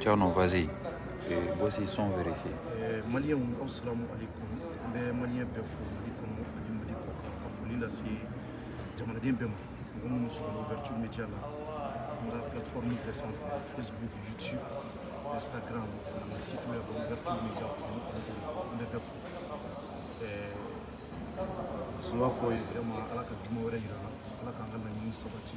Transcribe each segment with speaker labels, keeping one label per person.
Speaker 1: Thierno, vas-y. Et voici son vérifié. Euh,
Speaker 2: Malien, assalamu alaikum. An bɛ Malien bɛɛ fo, Mali kɔnɔ, ani Mali kɔkan, ka foli lase jamanaden bɛɛ ma. Mɔgɔ minnu sɔrɔla ouverture média la. An ka plateforme bɛɛ sanfɛ Facebook, YouTube, Instagram, an ka site web, ouverture média, an bɛ bɛɛ fo. An b'a fɔ ye vraiment ala ka juma wɛrɛ yira an na ala k'an ka laɲini sabati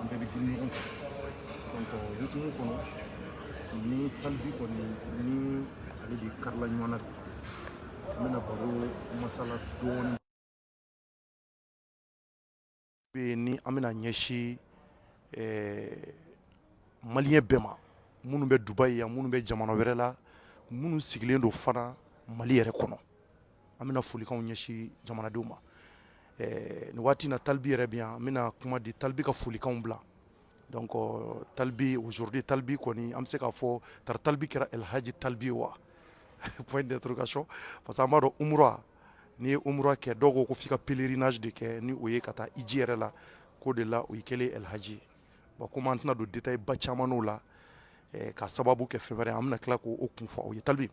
Speaker 2: an bɛɛ bɛ girin ɲɔgɔn kan donc o hukumu kɔnɔ ni talibi kɔni ni ale de karila ɲɔgɔn na bi an bɛna baro masala dɔɔni bɛ yen ni an bɛna ɲɛsin eh, maliyɛn bɛɛ ma minnu bɛ dubayi yan minnu bɛ jamana wɛrɛ la minnu sigilen don fana mali yɛrɛ kɔnɔ an bɛna folikanw ɲɛsin jamanadenw ma eh, nin waati na talibi yɛrɛ bɛ yan an bɛna kuma di talibi ka folikanw bila donc talibi aujourd'hui talibi kɔni an bɛ se k'a fɔ tari talibi kɛra elhaji talibi ye wa point d'interrogation parce que an b'a dɔn umura n'i ye umura kɛ dɔw ko ko f'i ka pèlerinage de kɛ ni o ye ka taa iji yɛrɛ la k'o de la o y'i kɛlen elhaji ye Bon comme an tɛna don détail ba caman n'o la ka sababu kɛ fɛn wɛrɛ an bɛna tila k'o kun fɔ aw ye Talbi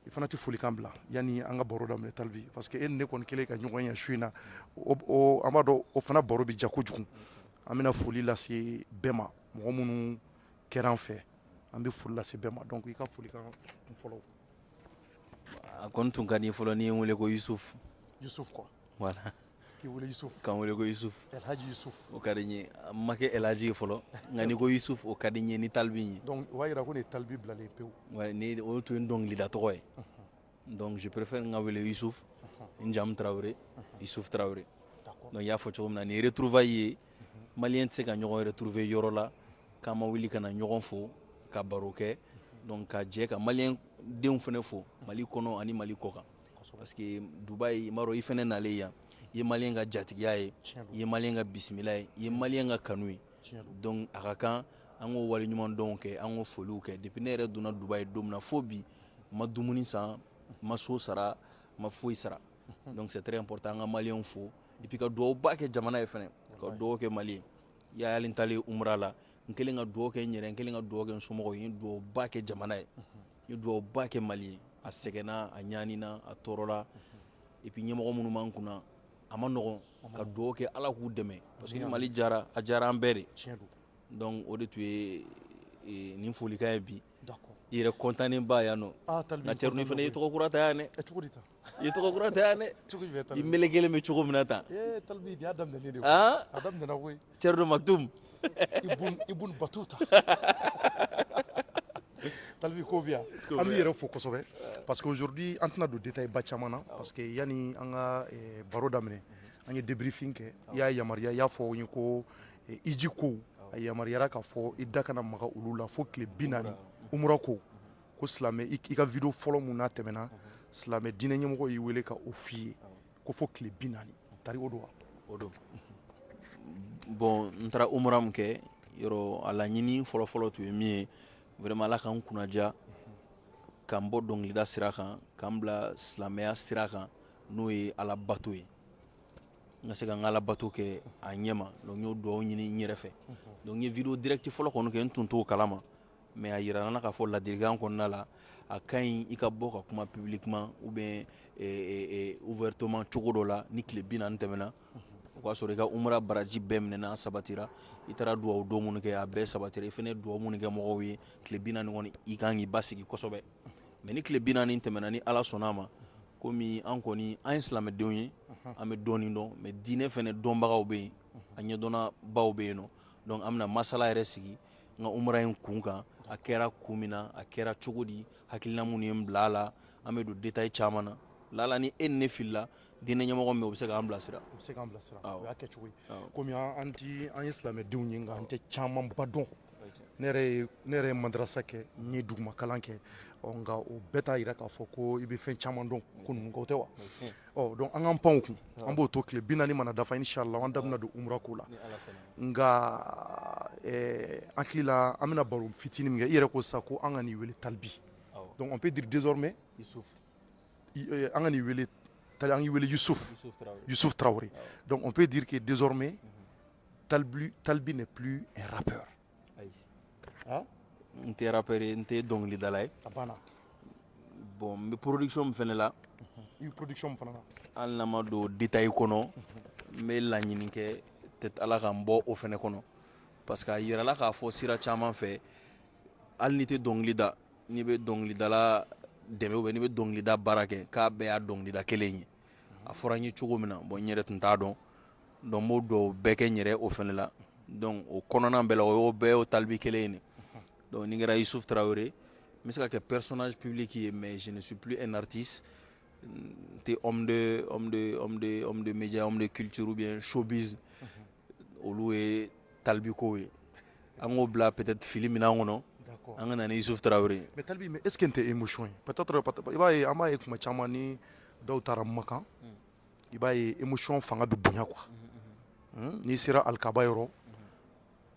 Speaker 2: i fana tɛ folikan bila yanni an ka baro daminɛ Talbi parce que e ni ne kɔni kɛlen ka ɲɔgɔn ye su in na o an b'a dɔn o fana baro bɛ ja kojugu an bɛna foli lase bɛɛ ma mɔgɔ minnu kɛra an fɛ an bɛ foli lase bɛɛ ma donc i ka folikan kun fɔlɔ
Speaker 3: a kɔni tun ka di fɔlɔ n'i ye n wele ko Yusuf Yusuf quoi
Speaker 2: voilà
Speaker 3: k'i wele
Speaker 2: Yusuf k'an wele ko
Speaker 3: Yusuf Elhaji Yusuf
Speaker 2: o ka di n ye
Speaker 3: n ma kɛ Elhaji ye fɔlɔ nka n'i ko Yusuf o ka di n ye ni talibi ye donc o b'a jira ko nin ye talibi
Speaker 2: bilalen ye pewu wa ni o tun ye n
Speaker 3: dɔnkilida tɔgɔ ye donc je préfère n ka wele Yusuf n jamu Tarawele Yusuf Tarawele d'accord donc i y'a fɔ cogo min na nin ye retrouvaille ye maliyɛn tɛ se ka ɲɔgɔn retrouver yɔrɔ la k'an ma wuli ka na ɲɔgɔn fo ka baro kɛ donc ka jɛ ka maliyɛn denw fana fo mali kɔnɔ ani mali kɔkan parce que dubayi i b'a dɔn i fɛnɛ nalen yan i ye maliyɛn ka jatigiya ye i ye maliyɛn ka bisimila ye i ye maliyɛn ka kanu ye donc a ka kan an k'o waleɲumandɔnw kɛ an k'o foliw kɛ depuis ne yɛrɛ donna dubayi don min na fo bi n ma dumuni san n ma so sara n ma foyi sara donc c'est très important an ka maliyɛnw fo et puis ka duwawuba kɛ jamana ye fɛnɛ ka duwawu kɛ mali ye i y'a ye hali n taalen umra la n kɛlen ka duwawu kɛ n yɛrɛ n kɛlen ka duwawu kɛ n somɔgɔw ye n ye duwawuba kɛ jamana ye ye dugawu ba kɛ mali ye a sɛgɛnna a ɲanina a tɔɔrɔla et puis ɲɛmɔgɔ minnu b'an kunna a man nɔgɔn ka dugawu kɛ ala k'u dɛmɛ parce que ni mali jara a jara an bɛɛ de donc o de tun ye e, nin folikan ye bi i yɛrɛ kɔntanen bɛ yan non ah, nka cɛrno fana ye tɔgɔ kura ta yan dɛ i tɔgɔ kura ta yan dɛ cogo jumɛn tali i melekelen bɛ cogo min na tan ee talibi y'a daminɛlen de ye han a daminɛna koyi cɛrido maktum ibun
Speaker 2: ibun batuta talibi ko bɛ yan an b'i yɛrɛ fo kosɛbɛ parce que aujourd'hui an tɛna don détail ba caman na parce que yani an ka eh, baro daminɛ an ye débriefing kɛ i y'a yamaruya i y'a fɔ an ye ko eh, iji kow a yamaruyara k'a fɔ i da kana maga olu la fo tile bi naani umura kow ko silamɛ i ka video fɔlɔ mun n'a tɛmɛna silamɛ diinɛ ɲɛmɔgɔ y'i wele ka o f'i ye ko fo tile bi naani tari o don wa o don
Speaker 3: bon n taara umra min kɛ yɔrɔ a laɲini fɔlɔfɔlɔ tun ye min ye vraiment ala ka n kunnaja ka n bɔ dɔnkilida sira kan ka n bila silamɛya sira kan n'o ye ala bato ye n ka se ka n ka ala bato kɛ a ɲɛma donc n y'o duwawu ɲini n yɛrɛ fɛ donc n ye video direct fɔlɔ kɔni kɛ n tun t'o kalama mais a yira n na k'a fɔ ladilikan kɔnɔna la a ka ɲi i ka bɔ ka kuma publiquement ou bien eh, eh, eh, ouvertement cogo dɔ la ni tile bi naani tɛmɛna o k'a sɔrɔ i ka umra baraji bɛɛ minɛna sabatira i taara duwawu don minnu kɛ a bɛɛ sabatira i fana ye duwawu minnu kɛ mɔgɔw ye tile bi naani kɔni i kan k'i basigi kosɛbɛ mais ni tile bi naani tɛmɛna ni ala sɔnna a ma komi an kɔni an ye silamɛdenw ye an bɛ dɔɔni dɔn mais diinɛ fana dɔnbagaw bɛ yen a ɲɛdɔnnabaw bɛ yen nɔ donc an bɛna masala yɛrɛ sigi n ka umra in kun kan a kɛra kun min na a kɛra cogo di hakilina minnu ye n bila a la an bɛ don détail caman na lala ni e ni ne filila diinɛ ɲɛmɔgɔ min bɛ yen o bɛ se k'an bilasira u bɛ se k'an bilasira
Speaker 2: o y'a kɛcogo ye komi an ti an ye silamɛdenw ye nka an tɛ camanba dɔn ne yɛrɛ ye ne yɛrɛ ye madarasa kɛ n ye duguma kalan kɛ ɔ nka o bɛɛ t'a yira k'a fɔ ko i bɛ fɛn caman dɔn ko ninnu kan o tɛ wa ɔ donc an k'an pan o kun an b'o to tile bi naani mana dafa inshallah an da bɛna don umra ko la nka eh, an hakili la an bɛna baro fitinin min kɛ i yɛrɛ ko sisan ko an kan'i wele talibi donc on peut dire désormais eh, an kan'i wele tali an k'i wele yusuf yusuf tarawele donc on peut dire que désormais mhm. talibi talibi n'est plus un rappeur ayi
Speaker 3: ah? n tɛ rappeur ye n tɛ dɔnkilidala ye a banna
Speaker 2: bon
Speaker 3: n bɛ production min fana la i bɛ production min
Speaker 2: fana na hali n'an ma don
Speaker 3: détail kɔnɔ n bɛ laɲini kɛ peut-être ala ka n bɔ o fana kɔnɔ parce que a yirala k'a fɔ sira caman fɛ hali n'i tɛ dɔnkili da n'i bɛ dɔnkilidala dɛmɛ ou bien n'i bɛ dɔnkilida baara kɛ k'a bɛɛ y'a dɔnkilida kelen ye a fɔra n ye cogo min na bɔn n yɛrɛ tun t'a dɔn dɔn b'o dɔw bɛɛ kɛ n yɛrɛ o fana la dɔn o kɔnɔna bɛɛ la o y' bɛɛ o talibi kelen in dɔn ni kɛra isu tarawele ye n bɛ se ka kɛ pɛrisɔnsi ppibili k'i ye mɛ zsipp e nati tɛ midiya kituuru bɛ sobisi olu ye talibi kow ye an k'o bila peut-être fili minɛn kɔnɔ an ka na ni Yusuf Tarawele ye mais talibi mais est-ce que nin tɛ
Speaker 2: émotion ye peut-être i b'a ye an b'a ye tuma caman ni dɔw taara Makan i b'a ye émotion fanga bɛ bonya quoi n'i sera alikaba yɔrɔ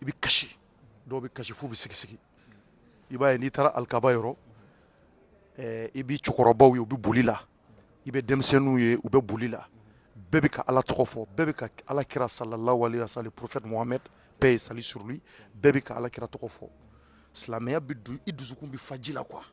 Speaker 2: i bɛ kasi dɔw bɛ kasi f'u bɛ sigi sigi i b'a ye n'i taara alikaba yɔrɔ i bɛ cɛkɔrɔbaw ye u bɛ boli la i bɛ denmisɛnninw ye u bɛ boli la bɛɛ bɛ ka ala tɔgɔ fɔ bɛɛ bɛ ka ala kira sallallahu alayhi wa sallam prophète Mohamed paix et salut sur lui bɛɛ bɛ ka ala kira tɔgɔ fɔ silamɛya bɛ don i dusukun bɛ fa ji la quoi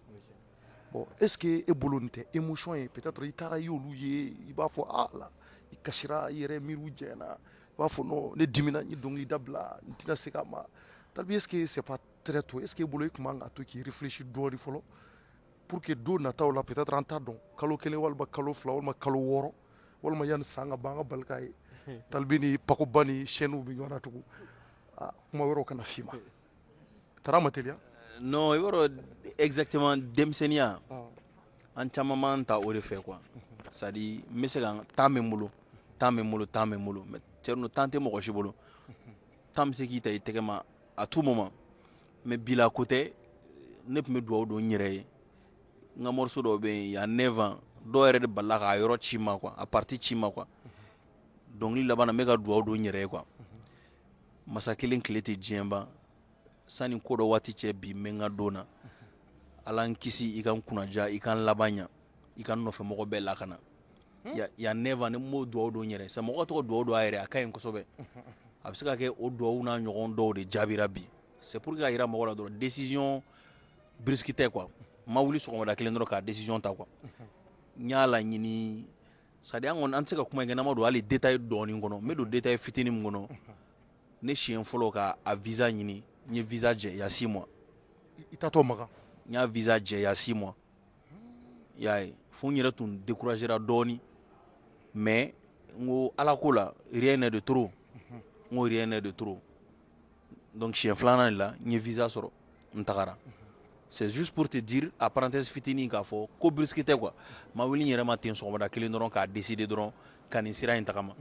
Speaker 2: bon est-ce que e bolo nin tɛ émotion ye peut-être i taara i y'olu ye i b'a fɔ ala i kasira i yɛrɛ miiriw jɛ na i b'a fɔ ne dimina n ye dɔnkili dabila n tɛna segin a ma talibi est-ce que c'est pas très tôt est-ce que e bolo i tun man kan ka to k'i réfléchir dɔɔni fɔlɔ pour que don nataw la peut-être an t'a dɔn kalo kelen walima kalo fila walima kalo wɔɔrɔ walima yanni san ka ban an ka bali k'a ye talibi ni pakoba ni scènew bɛ ɲɔgɔn na tugun kuma wɛrɛw kana f'i ma tara ma teliya non i b'a dɔn
Speaker 3: exactement denmisɛnninya an caman b'an ta o de fɛ quoi c'est à dire n bɛ se ka temps bɛ n bolo temps bɛ n bolo temps bɛ n bolo mais cɛrino temps tɛ mɔgɔ si bolo temps bɛ se k'i ta i tɛgɛ ma à tout moment mais bi la ko tɛ ne tun bɛ dugawu don n yɛrɛ ye n ka morceau dɔw bɛ yen il y a neuf ans dɔw yɛrɛ de balala k'a yɔrɔ ci n ma quoi a partie ci n ma quoi dɔnkili laban na n bɛ ka dugawu don n yɛrɛ ye quoi masa kelen tile tɛ diɲɛ ban sani ko dɔ waati cɛ bi n bɛ n ka don na ala n kisi i ka n kunnaja i ka n laban ɲa i ka n nɔfɛmɔgɔ bɛɛ lakana il y a neuf ans n b'o dugawu don n yɛrɛ ye sa mɔgɔ ka to ka dugawu don a yɛrɛ ye a ka ɲi kosɛbɛ a bɛ se ka kɛ o dugawu n'a ɲɔgɔn dɔw de jaabira bi c'est pour k'a jira mɔgɔ la dɔrɔn décision brusque tɛ quoi n ma wuli sɔgɔma kelen dɔrɔn ka décision ta quoi n y'a laɲini c'est à dire an tɛ se ka kuma kɛ n'an ma don hali détail dɔɔnin kɔnɔ n bɛ don détail fitinin min kɔnɔ ne siɲɛ fɔlɔ ka a visa ɲini n ye visa jɛ il y a six mois i taatɔ
Speaker 2: Makan n y'a visa jɛ
Speaker 3: il y a six mois y'a ye fo n yɛrɛ tun découragera dɔɔni mais n ko ala ko la rien n'est de trop n ko rien n'est de trop donc siɲɛ filanan de la n ye visa sɔrɔ n tagara c'est juste pour te dire a parenthèse fitinin k'a fɔ ko brusque tɛ quoi n ma wuli n yɛrɛ ma ten sɔgɔmada kelen dɔrɔn k'a décider dɔrɔn ka nin sira in tagama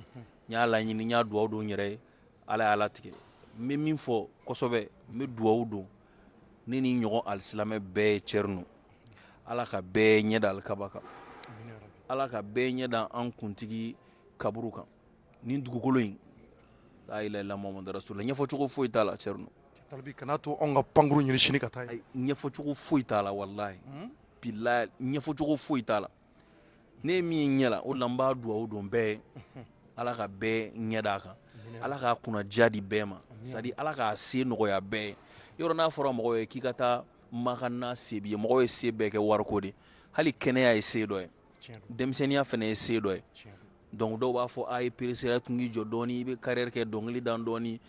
Speaker 3: n y'a laɲini n y'a duwawu don n yɛrɛ ye ala y'a latigɛ n bɛ min fɔ kosɛbɛ n bɛ duwawu don ne ni n ɲɔgɔn alisilamɛ bɛɛ ye cɛrino ala ka bɛɛ ɲɛ da alikaba kan ala ka bɛɛ ɲɛ da an kuntigi kaburu kan nin dugukolo in la ilaha illallah Muhamadu rasulullah ɲɛfɔcogo foyi t'a la cɛrino kana
Speaker 2: to an ka pankurun ɲini sini ka taa ɲɛfɔcogo foyi t'a
Speaker 3: la wallahi ɲɛfɔcogo foyi t'a la ne ye min ye ɲɛ la o de la n b'a duwawu don bɛɛ ye ala ka bɛɛ ɲɛ d'a kan ala k'a kunnadiya di bɛɛ ma c'est-à-dire ala k'a se nɔgɔya bɛɛ ye yɔrɔ n'a fɔra mɔgɔ ye k'i ka taa makan n'a se b'i ye mɔgɔw ye se bɛɛ kɛ wariko de hali kɛnɛya ye se dɔ ye denmisɛnninya fana ye se dɔ ye donc dɔw b'a fɔ a ye peresera tun k'i jɔ dɔɔni i bɛ carrière kɛ dɔnkili da dɔɔni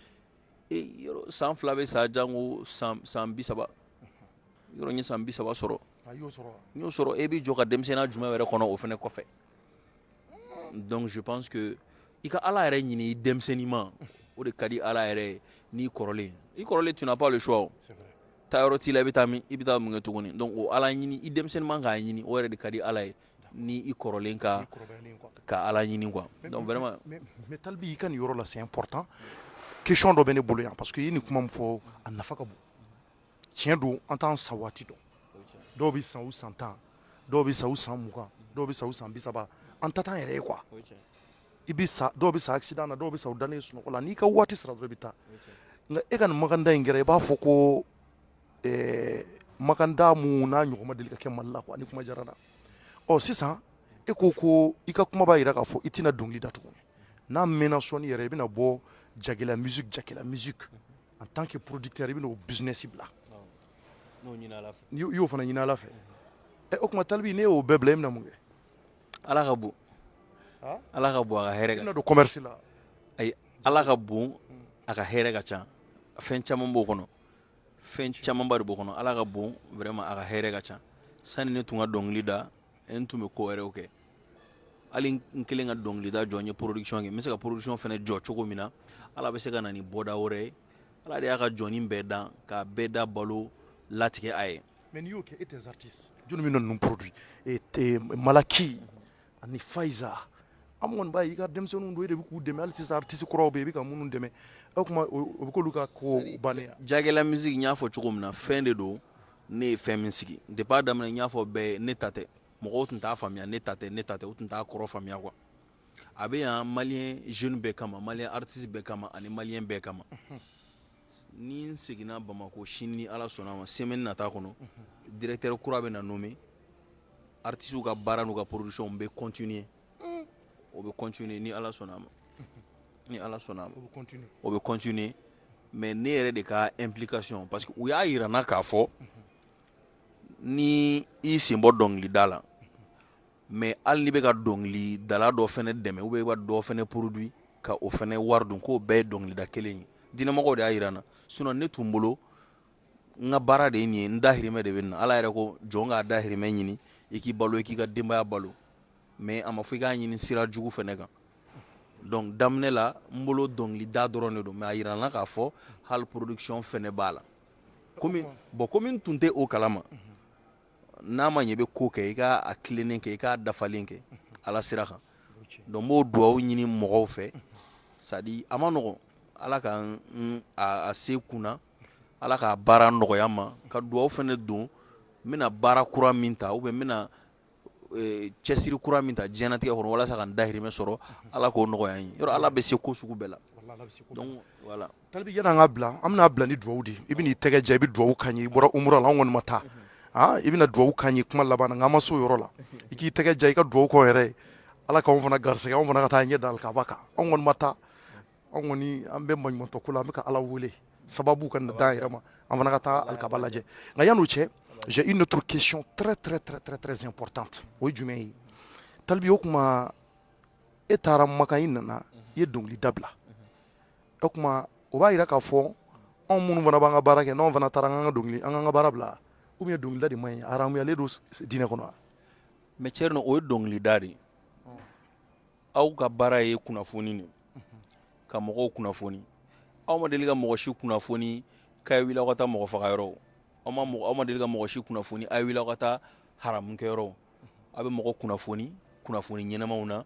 Speaker 3: san fila bɛ sa jango san bi saba yɔrɔ n ye san bi saba sɔrɔ n y'o sɔrɔ e b'i jɔ ka denmisɛnninya jumɛn wɛrɛ kɔnɔ o fana kɔfɛ donc je pense que i ka ala yɛrɛ ɲini i denmisɛnninman o de ka di ala yɛrɛ ye n'i kɔrɔlen i kɔrɔlen tu n'as pas le choix o taayɔrɔ t'i la i bɛ taa min i bɛ taa mun kɛ tuguni donc o ala ɲini i denmisɛnninman k'a ɲini o yɛrɛ de ka di ala ye ni i kɔrɔlen ka ka ala ɲini quoi donc vraiment mais talibi i ka
Speaker 2: nin yɔrɔ la c'est important question dɔ bɛ ne bolo yan parce que i ye nin kuma min fɔ a nafa ka bon tiɲɛ don an t'an sa waati dɔn dɔw bɛ sa u san tan dɔw bɛ sa u san mugan dɔw bɛ sa u san bi saba an ta t'an yɛrɛ ye quoi i bɛ sa dɔw bɛ sa accident na dɔw bɛ sa u dannen sunɔgɔ la n'i ka waati sera dɔrɔn i bɛ taa nka e ka nin makantaa in kɛra i b'a fɔ ko ɛɛ makantaa min n'a ɲɔgɔn ma deli ka kɛ mali la quoi nin kuma diyara n na ɔ sisan e ko ko i ka kuma b'a jira k'a fɔ i tɛna dɔnkili da tuguni n'a mɛnna sɔɔni yɛrɛ i bɛna bɔ jagɛlɛya musique jagɛlɛya musique en tant que producteur i bɛn'o business bila i y'o fana ɲini ala fɛ ɛ o kuma talibi n'e y'o bɛɛ bila e bɛna mun kɛ ala ka
Speaker 3: bon ala ka bon a ka hɛrɛ i bɛna don commerce
Speaker 2: la
Speaker 3: ayi ala ka bon a ka hɛrɛ ka ca fɛn caman b'o kɔnɔ fɛn camanba de b'o kɔnɔ ala ka bon vraiment a ka hɛrɛ ka ca sani ne tun ka dɔnkili da n tun bɛ ko wɛrɛw kɛ hali n kɛlen ka dɔnkilida jɔ n ye production kɛ n bɛ se ka production fana jɔ cogo min na ala bɛ se ka na ni bɔda wɛrɛ ye ala de y'a ka jɔnnin bɛɛ dan k'a bɛɛ da balo latigɛ a ye mais n'i y'o kɛ et
Speaker 2: tes artistes jɔni bɛna ninnu produit e tɛ malaki ani fayiza an kɔni b'a ye i ka denmisɛnninw don e de bɛ k'u dɛmɛ hali sisan artiste kuraw bɛ yen i bɛ ka minnu dɛmɛ o tuma o bɛ k'olu ka ko bannen jagɛlɛya musique n y'a
Speaker 3: fɔ cogo min na fɛn de don ne ye fɛn min sigi depuis a daminɛ n y'a fɔ bɛɛ ye ne ta tɛ mɔgɔw tun t'a faamuya ne ta tɛ ne ta tɛ u tun t'a kɔrɔ faamuya quoi a bɛ yan malien jeune bɛɛ kama malien artiste bɛɛ kama ani malien bɛɛ kama ni n seginna bamakɔ sini ni ala sɔnna a ma semaine nata kɔnɔ directeur kura bɛna nommer artistes ka baara n'u ka production bɛ continuer o bɛ continuer ni Ala sɔnna a ma ni Ala sɔnna a ma o bɛ continuer mais ne yɛrɛ de ka implication parce que u y'a yira n na k'a fɔ ni i sen bɔ dɔnkilida la mais hali n'i bɛ ka dɔnkilidala dɔ fɛnɛ dɛmɛ ou bien i bɛ dɔ fɛnɛ produit ka o fɛnɛ wari dun k'o bɛɛ ye dɔnkilida kelen ye diinɛmɔgɔw de y'a yira n na sinon ne tun bolo n ka baara de ye nin ye n dahirimɛ de bɛ nin na Ala yɛrɛ ko jɔn k'a dahirimɛ ɲini i k'i balo i k'i ka denbaya balo mais a ma fɔ i k'a ɲini sira jugu fɛnɛ kan donc daminɛ la n bolo dɔnkilida dɔrɔn de don mais a yira n na k'a fɔ hali production fɛnɛ b'a la komi bon komi n tun tɛ o kalama n'a ma ɲɛ i bɛ ko kɛ i k'a tilennen kɛ i k'a dafalen kɛ ala sira kan donc n b'o duwawu ɲini mɔgɔw fɛ c'est à dire a man nɔgɔn ala ka a se kunna ala ka baara nɔgɔya n ma ka duwawu fɛnɛ don n bɛna baara kura min ta ou bien n bɛna cɛsiri kura min ta diɲɛnatigɛ kɔnɔ walasa ka n dahirimɛ sɔrɔ ala k'o nɔgɔya n ye yɔrɔ ala bɛ se ko sugu bɛɛ la talibi yan'an
Speaker 2: ka bila an bɛna bila ni duwawu de i bɛn'i tɛgɛ ja i bɛ duwawu k'an ye i bɔra umura la an kɔni ma taa i bɛna duwawu k'an ye kuma laban na nka an ma se o yɔrɔ la i k'i tɛgɛ ja i ka duwawu k'an yɛrɛ ye ala k'anw fana garisɛgɛ anw fana ka taa ɲɛ da alikaba kan anw kɔni ma taa anw kɔni an bɛ maɲumantɔ ko la an bɛ ka ala wele sababu ka na d'an yɛrɛ ma an fana ka taa alikaba lajɛ nka yan'o cɛ j'ai une autre question très très très très très importante o ye jumɛn ye talibi o kuma e taara makan i nana i ye dɔnkili dabila o kuma o b'a yira k'a fɔ anw minnu fana b'an ka baara kɛ n'anw fana taara an ka dɔnkili an k'an ka baara bila ou bien dɔnkilida de man ɲi a haramuyalen don diinɛ kɔnɔ wa mais cɛ
Speaker 3: o ye dɔnkilida de ye aw ka baara ye kunnafoni de ka mɔgɔw kunnafoni aw ma deli ka mɔgɔ si kunnafoni k'a' wuli aw ka taa mɔgɔ faga yɔrɔ aw ma aw ma deli ka mɔgɔ si kunnafoni a wuli aw ka taa haramukɛ yɔrɔ aw bɛ mɔgɔ kunnafoni kunnafoni ɲɛnamaw na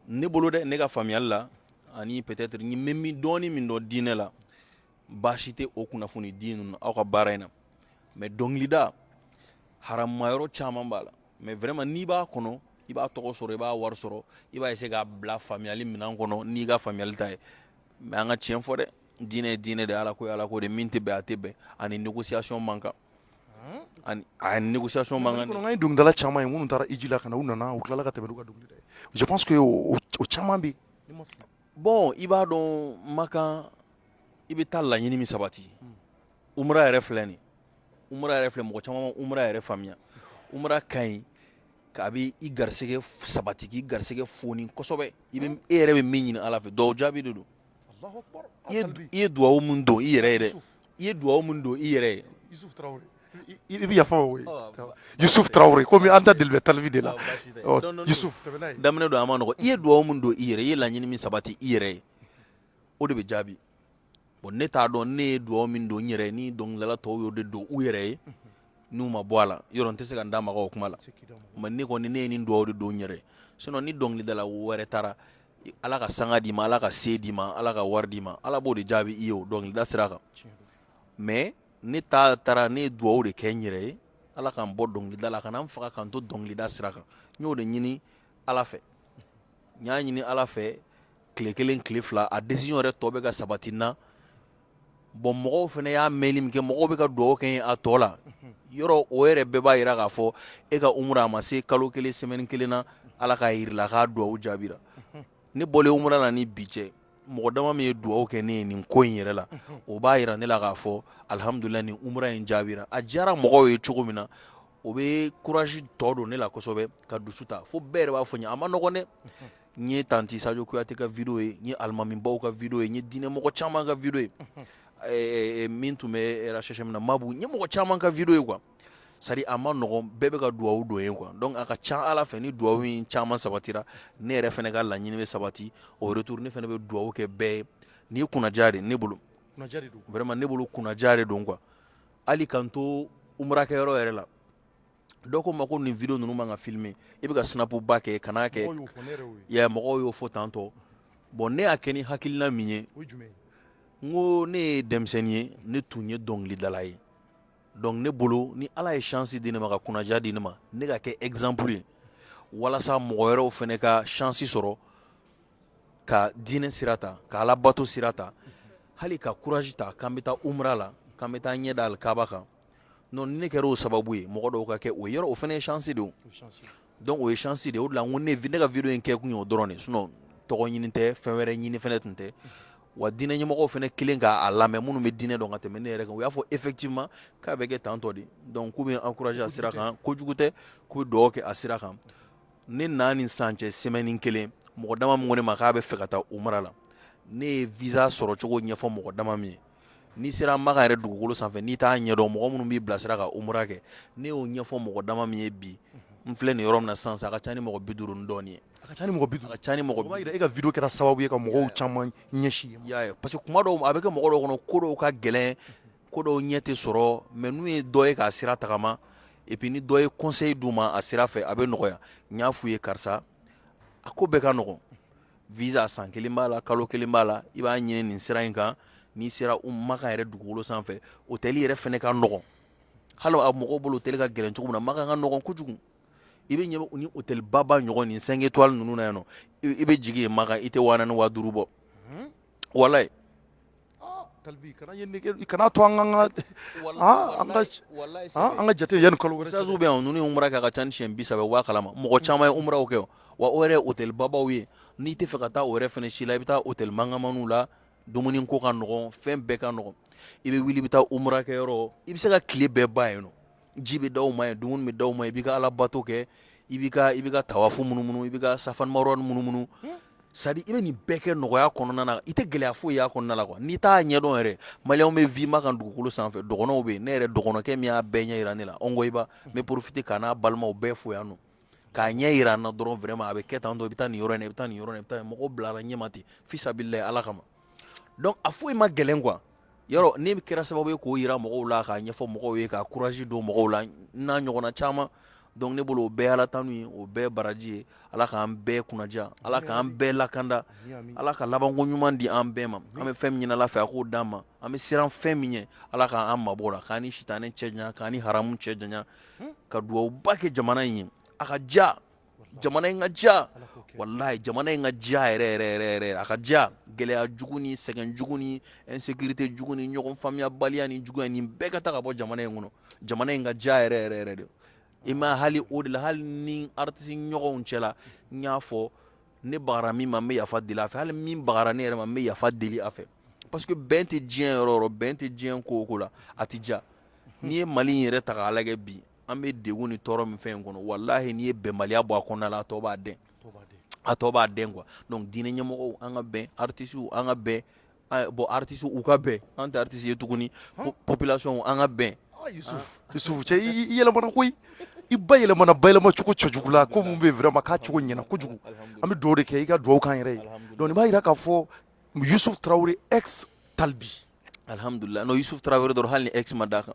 Speaker 3: ne bolo dɛ ne ka faamuyali la ani peut-être n bɛ dɔɔnin min dɔn diinɛ la baasi tɛ o kunnafoni di ninnu aw ka baara in na mais dɔnkilida haramayɔrɔ caman b'a la mais vraiment n'i b'a kɔnɔ i b'a tɔgɔ sɔrɔ i b'a wari sɔrɔ i b'a essayer k'a bila faamuyali minɛn kɔnɔ n'i ka faamuyali ta ye mais an ka tiɲɛ fɔ dɛ diinɛ ye diinɛ de ala ko ye ala ko de min tɛ bɛn a tɛ bɛn ani négociation man kan ani a négociation man kan an ye dɔnkilidala caman
Speaker 2: ye minnu taara hiji la ka na u nana u tilala ka tɛmɛ n'u ka dɔnkilida ye je pense que o caman bɛ bon
Speaker 3: i b'a dɔn makan i bɛ taa laɲini min sabati umra yɛrɛ filɛ nin umra yɛrɛ filɛ mɔgɔ caman ma umra yɛrɛ faamuya umra ka ɲi k'a bɛ i garisɛgɛ sabati k'i garisɛgɛ foni kosɛbɛ i bɛ e yɛrɛ bɛ min ɲini ala fɛ dugawu jaabi de don i ye dugawu min don i yɛrɛ ye dɛ i ye dugawu min don i
Speaker 2: yɛrɛ ye i bɛ yafa o ye Yusuf Traore komi an da deli bɛ Tal B de la Yusuf daminɛ don a
Speaker 3: man nɔgɔ i ye dugawu min don i yɛrɛ i ye laɲini min sabati i yɛrɛ ye o de bɛ jaabi bon ne t'a dɔn ne ye dugawu min don n yɛrɛ ye ni dɔnkilidala tɔw y'o de don u yɛrɛ ye n'u ma bɔ a la yɔrɔ n tɛ se ka n da maga o kuma la mais ne kɔni ne ye nin dugawu de don n yɛrɛ sinon ni dɔnkilidala wɛrɛ taara ala ka sanga d'i ma ala ka se d'i ma ala ka wari d'i ma ala b'o de jaabi i ye o dɔnkilida sira kan mais ne ta taara ne ye dugawu de kɛ n yɛrɛ ye ala ka n bɔ dɔnkilida la a kana n faga ka n to dɔnkilida sira kan n y'o de ɲini ala fɛ n y'a ɲini ala fɛ tile kelen tile fila a décision yɛrɛ tɔ bɛ ka sabati n na bon mɔgɔw fana y'a mɛn min kɛ mɔgɔw bɛ ka dugawu kɛ n ye a tɔ la yɔrɔ o yɛrɛ bɛɛ b'a jira k'a fɔ e ka umra a ma se kalo kelen semaine kelen na ala k'a jira i la k'a dugawu jaabira ne bɔlen umra na ni bi cɛ mɔgɔ dama min ye dugawu kɛ ne ye nin ko in yɛrɛ la o b'a jira ne la k'a fɔ alihamdulila nin umra in jaabira a diyara mɔgɔw ye cogo min na o bɛ courage tɔ don ne la kosɛbɛ ka dusu ta fo bɛɛ yɛrɛ b'a fɔ n ye a man nɔgɔn dɛ N ye tanti Sadio Kuyate ka video ye n ye alimamibaw ka video ye n ye diinɛmɔgɔ caman ka video ye min tun bɛ RHHM na Mabu n ye mɔgɔ caman ka video ye quoi c'est à dire a man nɔgɔn bɛɛ bɛ ka dugawu don n ye quoi donc a ka ca ala fɛ ni dugawu in caman sabatira ne yɛrɛ fɛnɛ ka laɲini bɛ sabati au retour ne fɛnɛ bɛ dugawu kɛ bɛɛ ye nin ye kunnaja de ne bolo ne bolo kunnaja de don quoi hali k'an to umra kɛ yɔrɔ yɛrɛ la dɔw ko n ma ko nin video ninnu man ka filmer i bɛ ka snap ba kɛ kan'a kɛ ya mɔgɔw y'o fɔ tan tɔ bon ne y'a kɛ ni hakilina min ye n ko ne ye denmisɛnnin ye ne tun ye dɔnkilidala ye donc ne bolo ni ala ye chance di ne ma ka kunnaja di ne ma ne ka kɛ exemple ye walasa mɔgɔ wɛrɛw fɛnɛ ka chance sɔrɔ ka diinɛ sira ta ka ala bato sira ta hali ka courage ta k'an bɛ taa umra la k'an bɛ taa ɲɛ da alikaba kan non ni ne kɛra o sababu ye mɔgɔ dɔw ka kɛ o yɔrɔ o fɛnɛ ye chance de ye donc o ye chance de ye o de la n ko ne ne ka video in kɛ kun ye o dɔrɔn de sinon tɔgɔ ɲini tɛ fɛn wɛrɛ ɲini fɛnɛ tun tɛ wa diinɛ ɲɛmɔgɔw fɛnɛ kɛlen k'a lamɛn minnu bɛ diinɛ dɔn ka tɛmɛ ne yɛrɛ kan u y'a fɔ effectivement k'a bɛ kɛ tantɔ de donc k'u bɛ encourager a sira kan kojugu tɛ k'u bɛ dugawu kɛ a sira kan ne na ni san cɛ semaine kelen mɔgɔ dama min ko ne ma k'a bɛ fɛ ka taa umra la ne ye visa sɔrɔ cogo ɲɛfɔ mɔgɔ dama min ye n'i sera maka yɛrɛ dugukolo sanfɛ n'i t'a ɲɛdɔn mɔgɔ minnu b'i bilasira ka umra kɛ ne y'o ɲɛfɔ mɔgɔ dama min ye bi n filɛ nin yɔrɔ min na sisan a ka ca ni mɔgɔ bi duuru ni dɔɔnin ye a ka ca ni mɔgɔ bi duuru a ka ca
Speaker 2: ni mɔgɔ bi e
Speaker 3: ka video kɛra sababu
Speaker 2: ye
Speaker 3: ka
Speaker 2: mɔgɔw caman ɲɛsin y'a ye parce que kuma dɔw
Speaker 3: a bɛ kɛ mɔgɔ dɔw kɔnɔ ko dɔw ka gɛlɛn ko dɔw ɲɛ tɛ sɔrɔ mais n'u ye dɔ ye k'a sira tagama et puis ni dɔ ye conseil d'u ma a sira fɛ a bɛ nɔgɔya n y'a f'u ye karisa a ko bɛɛ ka nɔgɔn visa san kelen b'a la kalo kelen b'a la i b'a ɲini nin sira in kan n'i sera maka yɛrɛ dugukolo sanfɛ hôtel yɛrɛ fɛnɛ ka nɔgɔn hali a mɔgɔw bolo hôtel ka gɛlɛn cogo min na makan ka nɔgɔn kojugu i bɛ ɲɛ ni hôtel baba ɲɔgɔn nin cinq étoiles ninnu na yan nɔ i bɛ jigin yen makan i tɛ waa naani waa duuru bɔ walayi
Speaker 2: Talbi kana ye nege i kana to an ka an ka an ka jate yanni kalo wɛrɛ sazu bɛ yan ninnu ye umra kɛ a
Speaker 3: ka ca ni siɲɛ bi saba u b'a kalama mɔgɔ caman ye umraw kɛ wa o yɛrɛ hôtel babaw ye n'i tɛ fɛ ka taa o yɛrɛ fɛnɛ si la i bɛ taa hôtel mangamaniw la dumuni ko ka nɔgɔn fɛn bɛɛ ka nɔgɔn i bɛ wuli i bɛ taa umra kɛ yɔrɔ i bɛ se ka tile bɛɛ ban yen nɔ ji bɛ d'aw ma yen dumuni bɛ d'aw ma i b'i ka ala bato kɛ i b'i ka i b'i ka tawafu munumunu i b'i ka safa marwa munumunu sa i bɛ nin bɛɛ kɛ nɔgɔya kɔnɔna na i tɛ gɛlɛya foyi y'a kɔnɔna la quoi n'i t'a ɲɛdɔn yɛrɛ maliyɛnw bɛ vivre makan dugukolo sanfɛ dɔgɔnɔw bɛ yen ne yɛrɛ dɔgɔnɔkɛ min y'a bɛɛ ɲɛ yira ne la Ongoyiba n bɛ profiter k'a n'a balimaw bɛɛ fo yan nɔ k'a ɲɛ yira an na dɔrɔn vraiment a bɛ kɛ tan dɔn i bɛ taa nin yɔrɔ in na i bɛ taa nin yɔrɔ in na i bɛ taa mɔgɔw bilara ɲɛ ma ten fisabililayi ala kama donc a foyi ma gɛlɛn quoi yɔrɔ ne kɛra sababu ye k'o yira mɔgɔw la k'a ɲɛfɔ mɔgɔw ye ka courage don mɔgɔw la n'a ɲɔgɔnna caman donc ne bolo o bɛɛ ala tanu ye o bɛɛ baraji ye ala k'an bɛɛ kunnaja ala k'an bɛɛ lakanda ala ka labanko ɲuman di an bɛɛ ma an bɛ fɛn min ɲini ala fɛ a k'o d'an ma an bɛ siran fɛn min ɲɛ ala k'an mabɔ o la k'an ni sitanɛ cɛ janya k'an ni haramu cɛ janya ka duwawuba kɛ jamana in ye a ka diya jamana in ka ja walayi jamana in ka ja yɛrɛ yɛrɛ yɛrɛ yɛrɛ a ka ja gɛlɛya jugu ni sɛgɛn jugu ni insécurité jugu ni ɲɔgɔn faamuyabaliya ni juguya nin bɛɛ ka ta ka bɔ jamana in kɔnɔ jamana in ka ja yɛrɛ yɛrɛ yɛrɛ de i ma hali o de la hali ni artiste ɲɔgɔnw cɛla n y'a fɔ ne bagara min ma n bɛ yafa deli a fɛ hali min bagara ne yɛrɛ ma n bɛ yafa deli a fɛ parce que bɛn tɛ diɲɛ yɔrɔ o yɔrɔ bɛn tɛ diɲɛ ko o ko la a tɛ ja n'i ye mali in yɛrɛ ta k'a lajɛ bi an bɛ degun ni tɔɔrɔ min fɛn in kɔnɔ walahi n'i ye bɛnbaliya bɔ a kɔnɔna la a tɔ b'a dɛn a tɔ b'a dɛn quoi donc diinɛ ɲɛmɔgɔw an ka bɛn artistes an ka bɛn bon artistes u ka bɛn an tɛ artistes ye tuguni population an ka bɛn Yusuf
Speaker 2: Yusuf cɛ i yɛlɛmana koyi i bayɛlɛmana bayɛlɛma cogo cɛjugu la ko mun bɛ vraiment k'a cogo ɲɛna kojugu an bɛ duwawu de kɛ i ka duwawu k'an yɛrɛ ye donc nin b'a yira k'a fɔ Yusuf
Speaker 3: Tarawele
Speaker 2: ex
Speaker 3: Talbi alhamdulillah
Speaker 2: non Yusuf
Speaker 3: Tarawele dɔrɔn hali ni ex ma
Speaker 2: d'a
Speaker 3: kan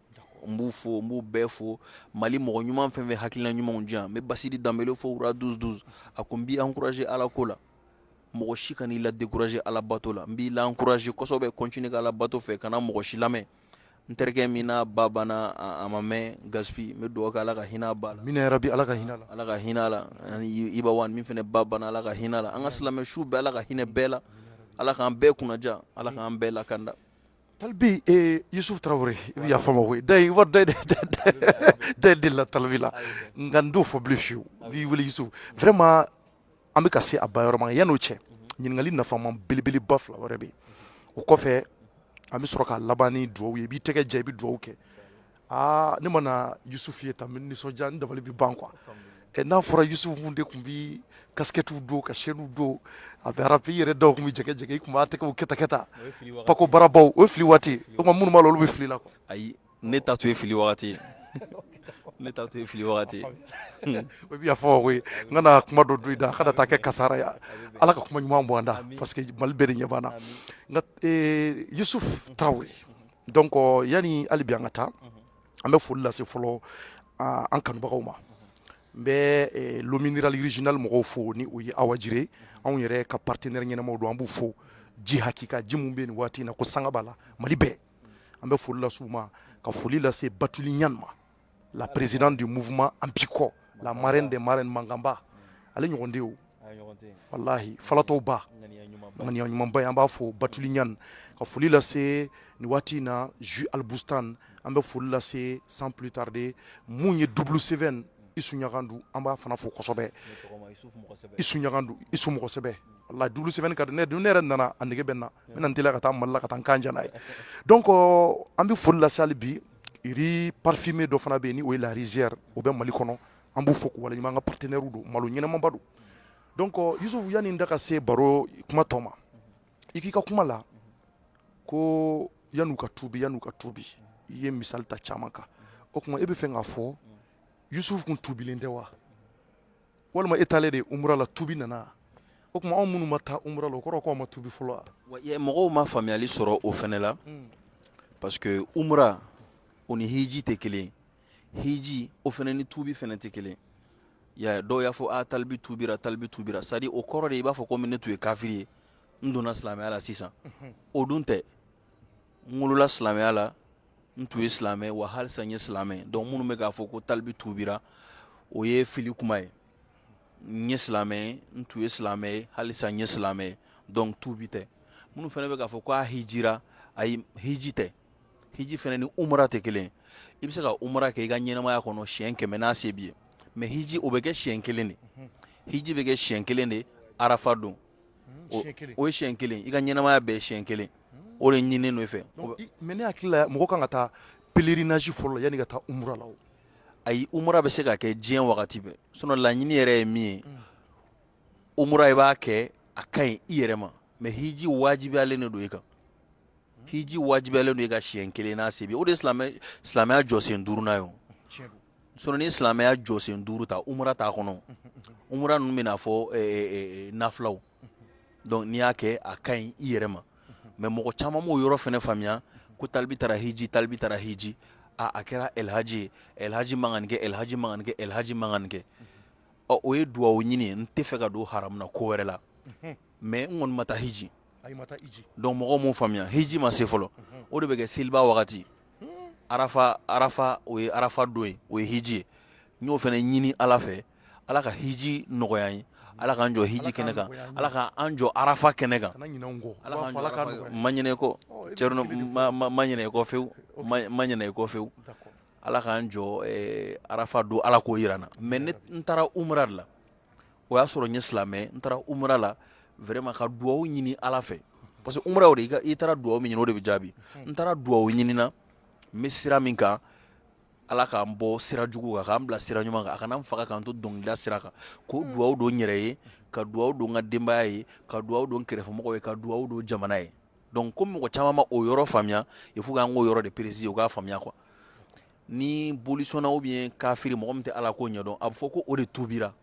Speaker 3: n b'u fo n b'u bɛɛ fo mali mɔgɔ ɲuman fɛn fɛn hakilina ɲumanw di yan n bɛ basidi danbele fo wura douze douze a ko n b'i encourager ala ko la mɔgɔ si kan'i la décourager ala bato la n b'i la encourager kosɛbɛ continuer ka ala bato fɛ kana mɔgɔ si lamɛn n terikɛ min n'a ba banna a ma mɛn gaspi n bɛ dugawu kɛ ala ka hinɛ a ba la amiina yarabi ala ka hinɛ la
Speaker 2: ala ka hinɛ a
Speaker 3: la ani iba wan min fana ba banna ala ka hinɛ a la an ka silamɛ su bɛɛ ala ka hinɛ bɛɛ la ala k'an bɛɛ kunnaja ala k'an bɛɛ lakanda
Speaker 2: Talibi yesufu tarawele i bɛ yafa n ma koyi da ye da delila talibi la nka n t'o fɔ bilen fiyewu n b'i wele yusufu vraiment an bɛ ka se a ba yɔrɔma yan'o cɛ ɲininkali nafama belebeleba fila wɛrɛ bɛ yen o kɔfɛ an bɛ sɔrɔ ka laban ni dugawu ye i b'i tɛgɛ ja i bɛ dugawu kɛ aa ne mana yusufu ye tan n bɛ nisɔndiya n dabali bɛ ban quoi ɛ n'a fɔra yusufu mun de tun bɛ kasikɛtiw don ka chaînew don a bɛ arapi yɛrɛ dɔw tun bɛ jɛgɛ jɛgɛ i tun b'a tɛgɛw kɛ tan kɛ tan pako barabaw o ye fili waati o tuma minnu b'a la olu bɛ fili la quoi ayi ne ta tun
Speaker 3: ye fili wagati ye ne ta tun ye fili wagati ye o bɛ yafa n ma koyi
Speaker 2: n kana kuma dɔ don i da a kana taa kɛ kasara ye ala ka kuma ɲuman bɔ an da parce que mali bɛɛ de ɲɛ b'an na nka yusufu tarawele donc yanni hali bi an ka taa an bɛ foli lase fɔlɔ an kanubagaw ma n bɛ eh, l'eau minérale originale mɔgɔw fo ni o ye awa jire anw yɛrɛ ka partenaire ɲɛnamaw don an b'u fo ji hakika ji mun bɛ nin waati in na ko sanga b'a la mali bɛɛ an bɛ foli lase u ma ka foli lase batuli ɲan ma la présidente du mouvement An Biko, la marraine des marraines Mangamba, ale ɲɔgɔn de y'o walahi falatɔw ba ŋaniya ɲumanba ye an b'a fo batuli ɲan ka foli lase nin waati in na jus albustan an bɛ foli lase sans plus tarder mun ye double seven isu ɲagandu an b'a fana fo kosɛbɛ isu ɲagandu isu mɔgɔ sɛbɛ walahi double seven ka di ne ne yɛrɛ nana a nege bɛ n na n bɛna n teliya ka taa mali la ka taa n kan jɛ n'a ye donc an bɛ foli lase hali bi riz parfumé dɔ fana bɛ yen ni o ye la rizière o bɛ mali kɔnɔ an b'u fo k'u waleɲuman an ka partenaire don malo ɲɛnamaba don donc yusufu yanni n da ka se baro kuma tɔ ma i k'i ka kuma la ko yan'u ka tuubi yan'u ka tuubi i ye misali ta caman kan o tuma e bɛ fɛ k'a fɔ yusufu kun tuubilen tɛ wa walima e taalen de umra la tuubi nana o tuma anw minnu ma taa umra la o kɔrɔ k'anw ma tuubi fɔlɔ wa mɔgɔw ma
Speaker 3: faamuyali sɔrɔ o fɛnɛ la hmm. parce que umra o ni hiji tɛ kelen hiji o fɛnɛ ni tuubi fɛnɛ tɛ kelen ya dɔw y'a fɔ a ah, talibi tuubira talibi tuubira c'est-à-dire o kɔrɔ de i b'a fɔ komi ne tun ye kafiri ye n donna silamɛya la sisan o dun tɛ n wolola silamɛya la n tun ye silamɛ ye wa halisa n ye silamɛ ye donc minnu bɛ k'a fɔ ko talibi tuubira o ye fili kuma ye n ye silamɛ ye n tun ye silamɛ ye halisa n ye silamɛ ye donc tuubi tɛ minnu fɛnɛ bɛ k'a fɔ ko a hijira ayi hiji tɛ hiji fɛnɛ ni umra tɛ kelen ye i bɛ se ka umra kɛ i ka ɲɛnamaya kɔnɔ siɲɛ kɛmɛ n'a se b'i ye mais hiji o bɛ kɛ siɲɛ kelen de hiji bɛ kɛ siɲɛ kelen de arafa don o ye siɲɛ kelen i ka ɲɛnamaya bɛɛ siɲɛ kelen o de ɲininen don i fɛ mais ne hakili
Speaker 2: la mɔgɔ kan ka taa pèlerinage fɔlɔ yanni i ka taa umra la ayi umra
Speaker 3: bɛ se ka kɛ diɲɛ wagati bɛɛ sinon laɲini yɛrɛ ye min ye umra i b'a kɛ a ka ɲi i yɛrɛ ma mais hiji wajibiyalen de don i kan hiji wajibiyalen don i kan siɲɛ kelen n'a se b'i ye o de silamɛya jɔsen duurunan ye Sonnin ni silamɛya jɔsen duuru ta umara t'a kɔnɔ umra ninnu bɛ'a fɔ nafw dɔnku n'i y'a kɛ a ka ɲi i yɛrɛ ma mɛ mɔgɔ caman' yɔrɔ fana faamuya ko talibi taara hji talibi taara hji aaa a kɛra alilhaji alilhaji mankan kɛ alilhaji mankan kɛ alilhaji mankan kɛ ɔ o ye dugawu ɲini n tɛ fɛ ka don hamuna ko wɛrɛ la mɛ n kɔni ma taa hji dɔn mɔgɔ min faamuya hji ma se fɔlɔ o de bɛ kɛ seliba wagati arafa arafa o ye arafa don ye o ye hiji ye n y'o fɛnɛ ɲini ala fɛ ala ka hiji nɔgɔya ye ala k'an jɔ hiji kɛnɛ kan ala ka an jɔ arafa kɛnɛ kan ma ɲinɛ kɔ cɛ ma ɲinɛ kɔ fewu ma ɲinɛ kɔ fewu ala k'an jɔ arafa don ala k'o yira n na mais ne n taara umra de la o y'a sɔrɔ n ye silamɛ n taara umra la vraiment ka duwawu ɲini ala fɛ parce que umra o de i taara duwawu min ɲini o de bɛ jaabi n taara duwawu ɲini na n bɛ sira min kan ala k'an bɔ sira jugu kan k'an bila sira ɲuman kan a kana n faga k'an to dɔnkilida sira kan k'o hmm. duwawu don n yɛrɛ ye ka duwawu don n ka denbaya ye ka duwawu don kɛrɛfɛmɔgɔw ye ka duwawu don jamana ye donc comme mɔgɔ caman ma o yɔrɔ faamuya il faut k'an k'o yɔrɔ de préciser u k'a faamuya quoi ni bolisɔnna ou bien kafiri mɔgɔ min tɛ ala ko ɲɛdɔn a bɛ fɔ ko o de tuubira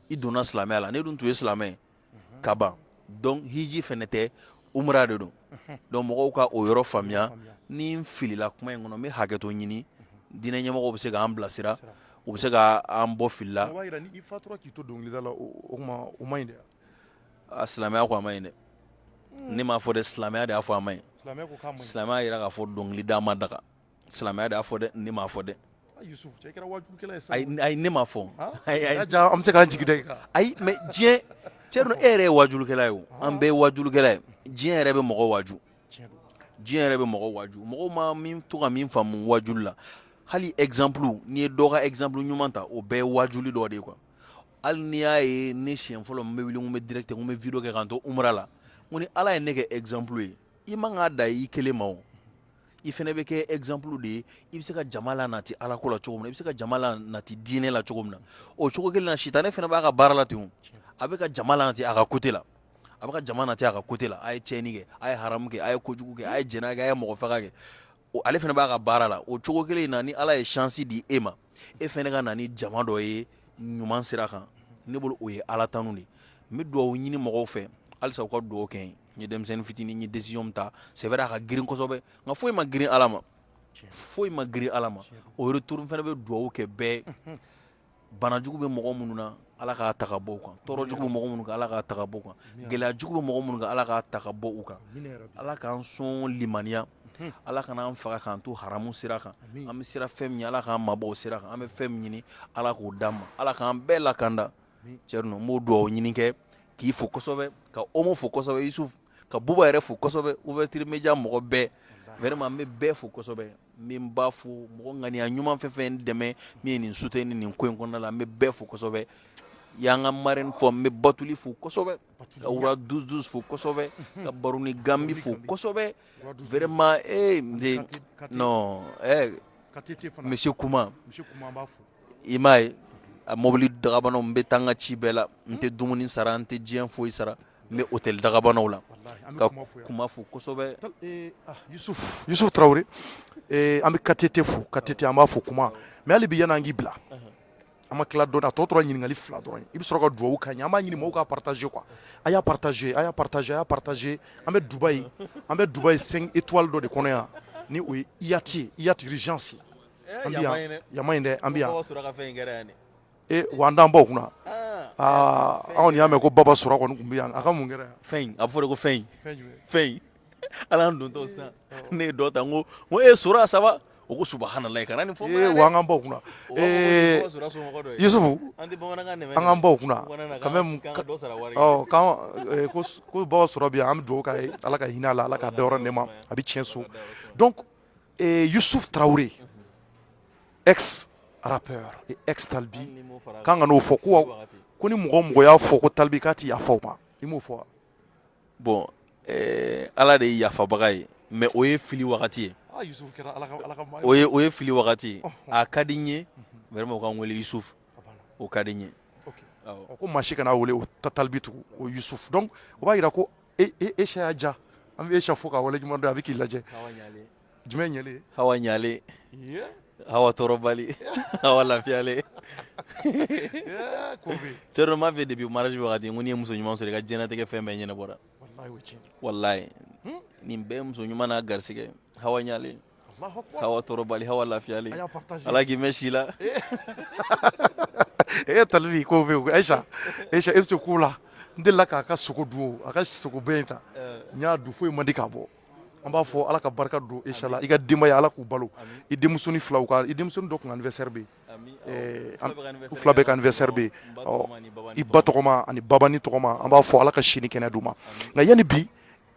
Speaker 3: i donna silamɛya la ne dun tun ye silamɛ ka ban donc hiji fɛnɛ tɛ umra de don donc mɔgɔw ka o yɔrɔ faamuya ni n filila kuma in kɔnɔ n bɛ hakɛto ɲini diinɛ ɲɛmɔgɔw bɛ se k'an bilasira u bɛ se k'an bɔ fili la
Speaker 2: a silamɛya
Speaker 3: ko a ma ɲi dɛ ne m'a fɔ dɛ silamɛya de y'a fɔ a ma ɲi silamɛya
Speaker 2: yira k'a fɔ
Speaker 3: dɔnkilida ma daga silamɛya de y'a fɔ dɛ ne m'a fɔ
Speaker 2: dɛ ayi ne m'a
Speaker 3: fɔ an bɛ
Speaker 2: se k'an jigi da i kan ayi mais diɲɛ
Speaker 3: cɛ dun e yɛrɛ ye wajulukɛla ye o an bɛɛ ye wajulukɛla ye diɲɛ yɛrɛ bɛ mɔgɔ waju diɲɛ yɛrɛ bɛ mɔgɔ waju mɔgɔw ma min to ka min faamu wajuli la hali exemple n'i ye dɔ ka exemple ɲuman ta o bɛɛ ye wajuli dɔ de ye quoi hali n'i y'a ye ne siɲɛ fɔlɔ n bɛ wuli n bɛ direct n bɛ video kɛ k'an to umra la n ko ni ala ye ne kɛ exemple ye i man k'a da i kelen ma o i fana bɛ kɛ exemple de ye i bɛ se ka jama la nati ala ko la cogo min na i bɛ se ka jama la nati diinɛ la cogo min na o cogo kelen na sitanɛ fana b'a ka baara la ten a bɛ ka jama la nati a ka côté la a bɛ ka jama nati a ka côté la a ye tiɲɛni kɛ a ye haramu kɛ a ye kojugu kɛ a ye jɛnɛya kɛ a ye mɔgɔ faga kɛ ale fana b'a ka baara la o cogo kelen na ni ala ye chance di e ma e fɛnɛ ka na ni jama dɔ ye ɲuman sira kan ne bolo o ye ala tanu de n bɛ dugawu ɲini mɔgɔw fɛ halisa u ka dugawu kɛ n ye denmisɛnnin fitinin n ye décision min ta c'est vrai a ka girin kosɛbɛ nka foyi ma girin ala ma foyi ma girin ala ma o retour fɛnɛ bɛ dugawu kɛ bɛɛ bana jugu bɛ mɔgɔ minnu na Ala k'a ta ka bɔ u kan tɔɔrɔ jugu bɛ mɔgɔ minnu kan ala k'a ta ka bɔ u kan gɛlɛya jugu bɛ mɔgɔ minnu kan ala k'a ta ka bɔ u kan ala k'an sɔn limaniya ala kana an faga k'an to haramu sira kan an bɛ siran fɛn min ɲɛ ala k'an mabɔ o sira kan an bɛ fɛn min ɲini ala k'o d'an ma ala k'an bɛɛ lakanda cɛrinɔ n b'o dugawu ɲini kɛ k'i fo kosɛbɛ ka omo fo kosɛbɛ yusuf ka buba yɛrɛ fo kosɛbɛ ouverture media mɔgɔ bɛɛ vraiment n bɛ bɛɛ fo kosɛbɛ n bɛ n ba fo mɔgɔ ŋaniya ɲuman fɛn fɛn dɛmɛ min ye nin soutenir nin ko in kɔnɔna la n bɛ bɛɛ fo kosɛbɛ y'an ka marraine fɔ n bɛ batuli fo kosɛbɛ ka roi douze douze fo kosɛbɛ ka baruni gambi fo kosɛbɛ vraiment monsieur kuma i m'a ye a mɔbili dagabana n bɛ taa n ka ci bɛɛ la n tɛ dumuni sara n tɛ diɲɛ foyi sara n bɛ hôtel dagabanaw la ka kuma fo
Speaker 2: kosɛbɛ yusuf tarawele an bɛ KTT fo KTT an b'a fo kuma mais hali bi yann'an k'i bila an ma tila dɔɔnin a tɔ tora ɲininkali fila dɔrɔn i bɛ sɔrɔ ka dugawu k'an ye an b'a ɲini mɔgɔw k'a partager quoi a y'a partager a y'a partager a y'a partager an bɛ dubaï an bɛ dubaï cinq étoiles dɔ de kɔnɔ yan ni o ye hyatt hyatt regency an bɛ yan an bɛ yan Ee wa an t'an baw kunna aa anw y'a mɛn ko baba sora kɔni tun bɛ yan a ka mun kɛra fɛn a bɛ fɔ de ko
Speaker 3: fɛn fɛn ala don tɔw sisan ne ye dɔ ta ko ko e sora ça va o ko subahanallahi kana nin fɔ an k'an baw
Speaker 2: kunna yusufu an k'an baw kunna ko baba sora bɛ yan an bɛ dugawu k'a ye ala ka hinɛ a la ala k'a dayɔrɔ nɛɛma a bɛ tiɲɛ so Et Youssouf Traoré, ex-rappeur et ex-Talbi, k'an kana o fɔ ko ko ni mɔgɔ o mɔgɔ y'a fɔ ko Talbi k'a ti yafa o ma i m'o fɔ wa bon
Speaker 3: eh, Ala de ye yafabaga ye mais o ye fili wagati ye ah, o ye o ye fili wagati oh, oh. a ka di n ye vraiment o ka n wele Youssouf o ka di n ye ko maa
Speaker 2: si kana a wele o Talbi tugun o Youssouf donc o b'a jira ko e e ayisa y'a ja an bɛ ayisa fo k'a wale ɲuman dɔn a bɛ k'i lajɛ jumɛn ɲɛlen hawa ɲalen
Speaker 3: hawa tɔɔrɔbali hawa lafiyalen cɛ dɔ m'a fɛ depuis mariage wagati ko n'i ye muso ɲuman sɔrɔ i ka diɲɛnatigɛ fɛn bɛɛ ɲɛnabɔra walayi nin bɛɛ muso ɲuman n'a garisigɛ hawa ɲalen hawa tɔɔrɔbali hawa lafiyalen ala k'i mɛn si la
Speaker 2: e ye talibi ko bɛ yen ayisa ayisa e bɛ se ko la n delila k'a ka sogo dun a ka sogo bɛɛ in ta eh. n y'a dun foyi man di k'a bɔ an b'a fɔ ala ka barika don ayisa la i ka denbaya ala k'u balo i denmusonin filaw ka i denmusonin dɔ tun anniversaire bɛ yen u fila bɛɛ ka anniversaire bɛ yen i ba tɔgɔma ani babani tɔgɔma an b'a fɔ ala ka si ni kɛnɛ d'u ma nka yanni bi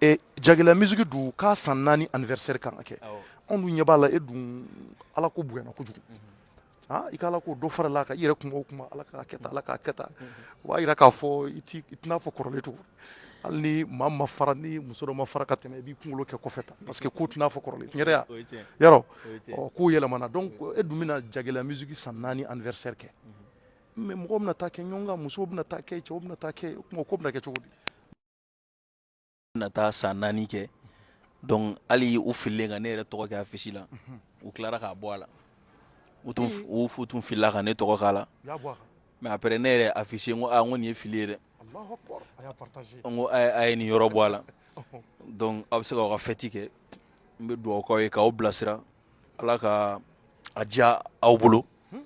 Speaker 2: e jagila musique dun ka san naani anniversaire kan ka kɛ anw dun ɲɛ b'a la e dun ala ko bonyana kojugu ah, i ka ala ko dɔ farala a kan i yɛrɛ kuma o kuma ala k'a kɛ tan ala k'a kɛ tan o b'a yira k'a fɔ i tɛ n'a fɔ kɔrɔlen tugun hali ni maa ma fara ni muso dɔ ma fara ka tɛmɛ i b'i kunkolo kɛ kɔfɛ tan parce que ko tɛ n'a fɔ kɔrɔlen tiɲɛ ya yarɔ kow yɛlɛmana donc e dun bɛna jagila musique san naani anniversaire kɛ mais mɔgɔw bɛna taa kɛ ɲɔgɔn kan musow bɛna taa kɛ cɛw bɛna taa kɛ o ko bɛna kɛ cogo di
Speaker 3: na taa san naani kɛ donc hali u fililen ka ne yɛrɛ tɔgɔ kɛ affiche la u tilara k'a bɔ a la u tun u fu tun filila ka ne tɔgɔ k'a la mais après ne yɛrɛ affiche n ko a ah, n ko nin ye fili ye dɛ n ko a ye nin yɔrɔ bɔ a la donc aw bɛ se ka aw ka fête kɛ n bɛ dugawu k'aw ye k'aw bilasira ala ka a diya aw bolo hmm?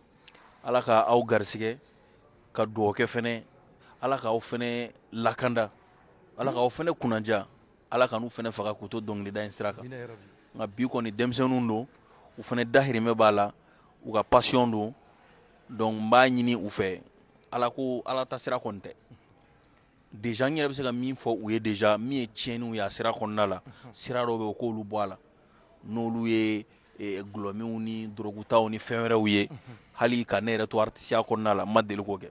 Speaker 3: ala ka aw garisigɛ ka dugawu kɛ fɛnɛ ala k'aw fɛnɛ lakanda Ala k'aw fɛnɛ kunnadiya ala kana u fɛnɛ faga k'u to dɔnkilida in sira kan nka bi kɔni denmisɛnninw don u fɛnɛ dahirimɛ b'a la u ka passion don donc n b'a ɲini u fɛ ala ko ala ta sira kɔni tɛ dɛ n yɛrɛ bɛ se ka min fɔ u ye de min ye tiɲɛn ye sira kɔnɔna la sira dɔw bɛ yen u k'olu bɔ a la n'olu ye glɔminw ni dɔrɔgutaw ni fɛn wɛrɛw ye hali ka ne yɛrɛ to artisiya kɔnɔna la n ma deli k'o kɛ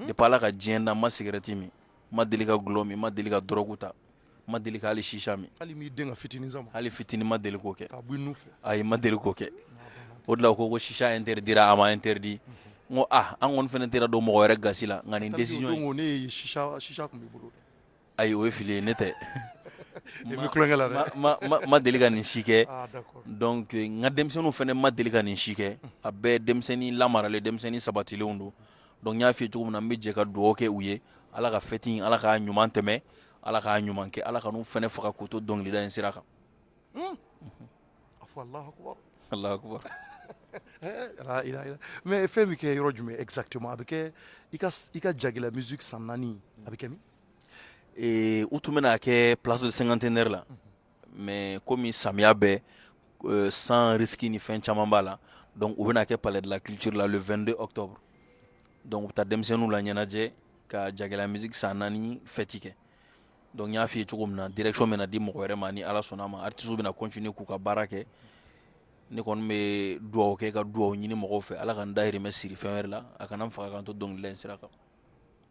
Speaker 3: depuis ala ka diɲɛ da n ma sigarɛti min ma deli ka dulɔ min n ma deli ka dɔrɔgu ta n ma deli ka hali shisha min hali m'i den ka fitinin
Speaker 2: sama hali fitinin ma deli
Speaker 3: k'o kɛ k'a bɔ i nun fɛ ayi ma
Speaker 2: deli k'o kɛ
Speaker 3: o de la u ko ko shisha interdira a ma interdit n ko ah an kɔni fɛnɛ tɛra don mɔgɔ wɛrɛ gasi la nka nin décision in ko ne ye
Speaker 2: shisha shisha tun b'i bolo ayi o ye
Speaker 3: fili ye ne tɛ i
Speaker 2: bɛ tulonkɛ la dɛ ma ma ma deli ka nin si kɛ
Speaker 3: ah d'accord donc n ka denmisɛnninw fɛnɛ ma deli ka nin si kɛ a bɛɛ denmisɛnnin lamaralen denmisɛnnin sabatilenw don donc n y'a f'i ye cogo min na n bɛ jɛ ka dugawu kɛ u ye ala ka fɛti in ala k'a ɲuman tɛmɛ ala k'a ɲuman kɛ ala kan'u fɛnɛ faga k'u to dɔnkilida in sira kan a fɔ allahu akbar
Speaker 2: mais fɛn bɛ kɛ yɔrɔ jumɛn exactement a bɛ kɛ i ka jagɛlɛya musique san naani a bɛ kɛ min
Speaker 3: u tun bɛn'a kɛ place de cinquantenaire la mais komi samiya bɛ euh, san risque ni fɛn caman b'a la donc u bɛn'a kɛ palais de la culture la le 22 octobre donc u bɛ taa denmisɛnninw la ɲɛnajɛ ka jagɛlɛya musique san naani fɛti kɛ donc n y'a f'i ye cogo min na direction bɛna di mɔgɔ wɛrɛ ma ni ala sɔnna a ma artistes bɛna continuer k'u ka baara kɛ ne kɔni bɛ dugawu kɛ ka dugawu ɲini mɔgɔw fɛ ala ka n dahirimɛ siri fɛn wɛrɛ la a kana n faga ka n to dɔnkilida in sira kan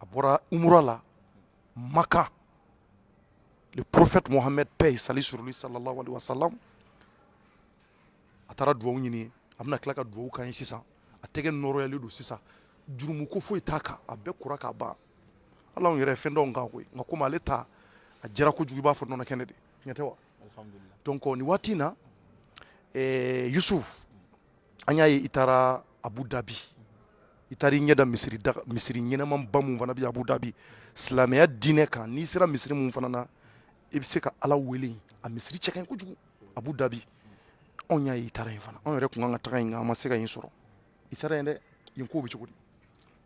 Speaker 2: a bɔra umra la Makan le prophète Mohammed paix et salut sur lui sallallahu alayhi wa sallam a taara dugawu ɲini a bɛna tila ka dugawu k'an ye sisan a tɛgɛ nɔrɔyalen don sisan jurumu ko foyi t'a kan a bɛɛ kora k'a ban ala anw yɛrɛ fɛn dɔw kan koyi nka komi ale ta a jɛra kojugu i b'a fɔ nɔnɔ kɛnɛ de tiɲɛ tɛ wa donc nin waati in na eh, Yusuf an y'a ye i taara abu dabi i taara i ɲɛ da misiri ɲɛnamaba mun fana bɛ abu dabi silamɛya diinɛ kan n'i sera misiri mun fana na i bɛ se ka ala wele a misiri cɛ ka ɲi kojugu abu dabi anw y'a ye i taara yen fana anw yɛrɛ tun kan ka taga yen nka an ma se ka yen sɔrɔ i taara yen dɛ yen kow bɛ cogo di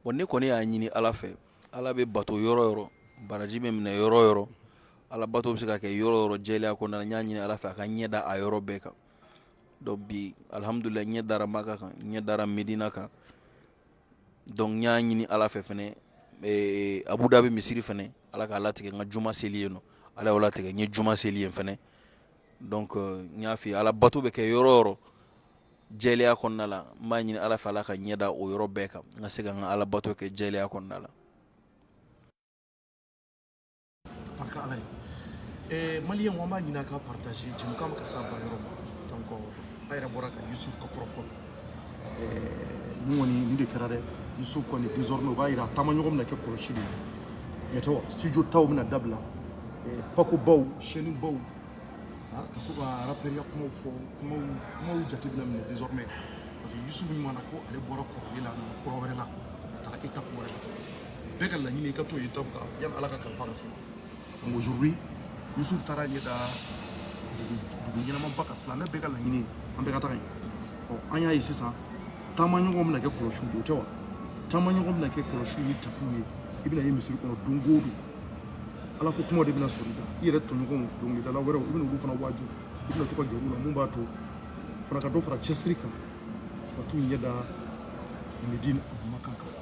Speaker 2: bon ne kɔni
Speaker 3: y'a ɲini ala fɛ ala bɛ bato yɔrɔ o yɔrɔ baraji bɛ minɛ yɔrɔ o yɔrɔ ala bato bɛ se ka kɛ yɔrɔ o yɔrɔ jɛlenya kɔnɔna na n y'a ɲini ala fɛ a ka n ɲɛ da a yɔrɔ bɛɛ kan donc bi alihamudulilayi n ɲɛ dara maka kan n ɲɛ dara medina kan donc n y'a ɲini ala fɛ fɛnɛ ee, abu dhabi misiri fɛnɛ ala k'a latigɛ n ka juma seli yen nɔ ala y'o latigɛ n ye juma seli yen fɛnɛ donc euh, n y'a f'i ye ala bato bɛ kɛ yɔrɔ o yɔrɔ jɛlenya kɔnɔna la n b'a ɲini ala fɛ ala ka n ɲɛ da o yɔrɔ bɛɛ kan n ka se ka n ka ala bato kɛ jɛlenya kɔnɔna la
Speaker 2: barika ala ye eh, maliyɛn an b'a ɲini a k'a partager jɛmukan bɛ ka s'a ba yɔrɔ ma donc a yɛrɛ bɔra ka yusuf ka kɔrɔfɔ la eh, nin kɔni nin de kɛra dɛ yusuf kɔni désormais o b'a yira a taamaɲɔgɔn bɛna kɛ kɔlɔsi de ye tiɲɛ tɛ wa studio taw bɛna dabila eh, pakobaw chaîne baw ka to ka rapɛriya kumaw fɔ kumaw kumaw jate bɛna minɛ désormais parce que yusuf min mana ko ale bɔra kɔrɔlen la a nana kura wɛrɛ la a taara étape wɛrɛ la bɛɛ ka laɲini i ka to étape kan yani ala ka kalifa ka se ma donc aujourd'hui yusuf taara ɲɛ da dugu ɲɛnamaba kan silamɛ bɛɛ ka laɲini an bɛɛ ka taga yen ɔ an y'a ye sisan taamaɲɔgɔn bɛna kɛ kɔlɔsiw de o tɛ wa taamaɲɔgɔn bɛna kɛ kɔlɔsiw ni tapiw ye i bɛna ye misiri kɔnɔ don o don ala ko kuma de bɛna sɔrɔ i kan i yɛrɛ tɔɲɔgɔnw dɔnkilidala wɛrɛw i bɛna olu fana waaju i bɛna to ka gɛrɛ u la min b'a to fana ka dɔ fara cɛsiri kan ka t'u ɲɛ da medine a kuma kan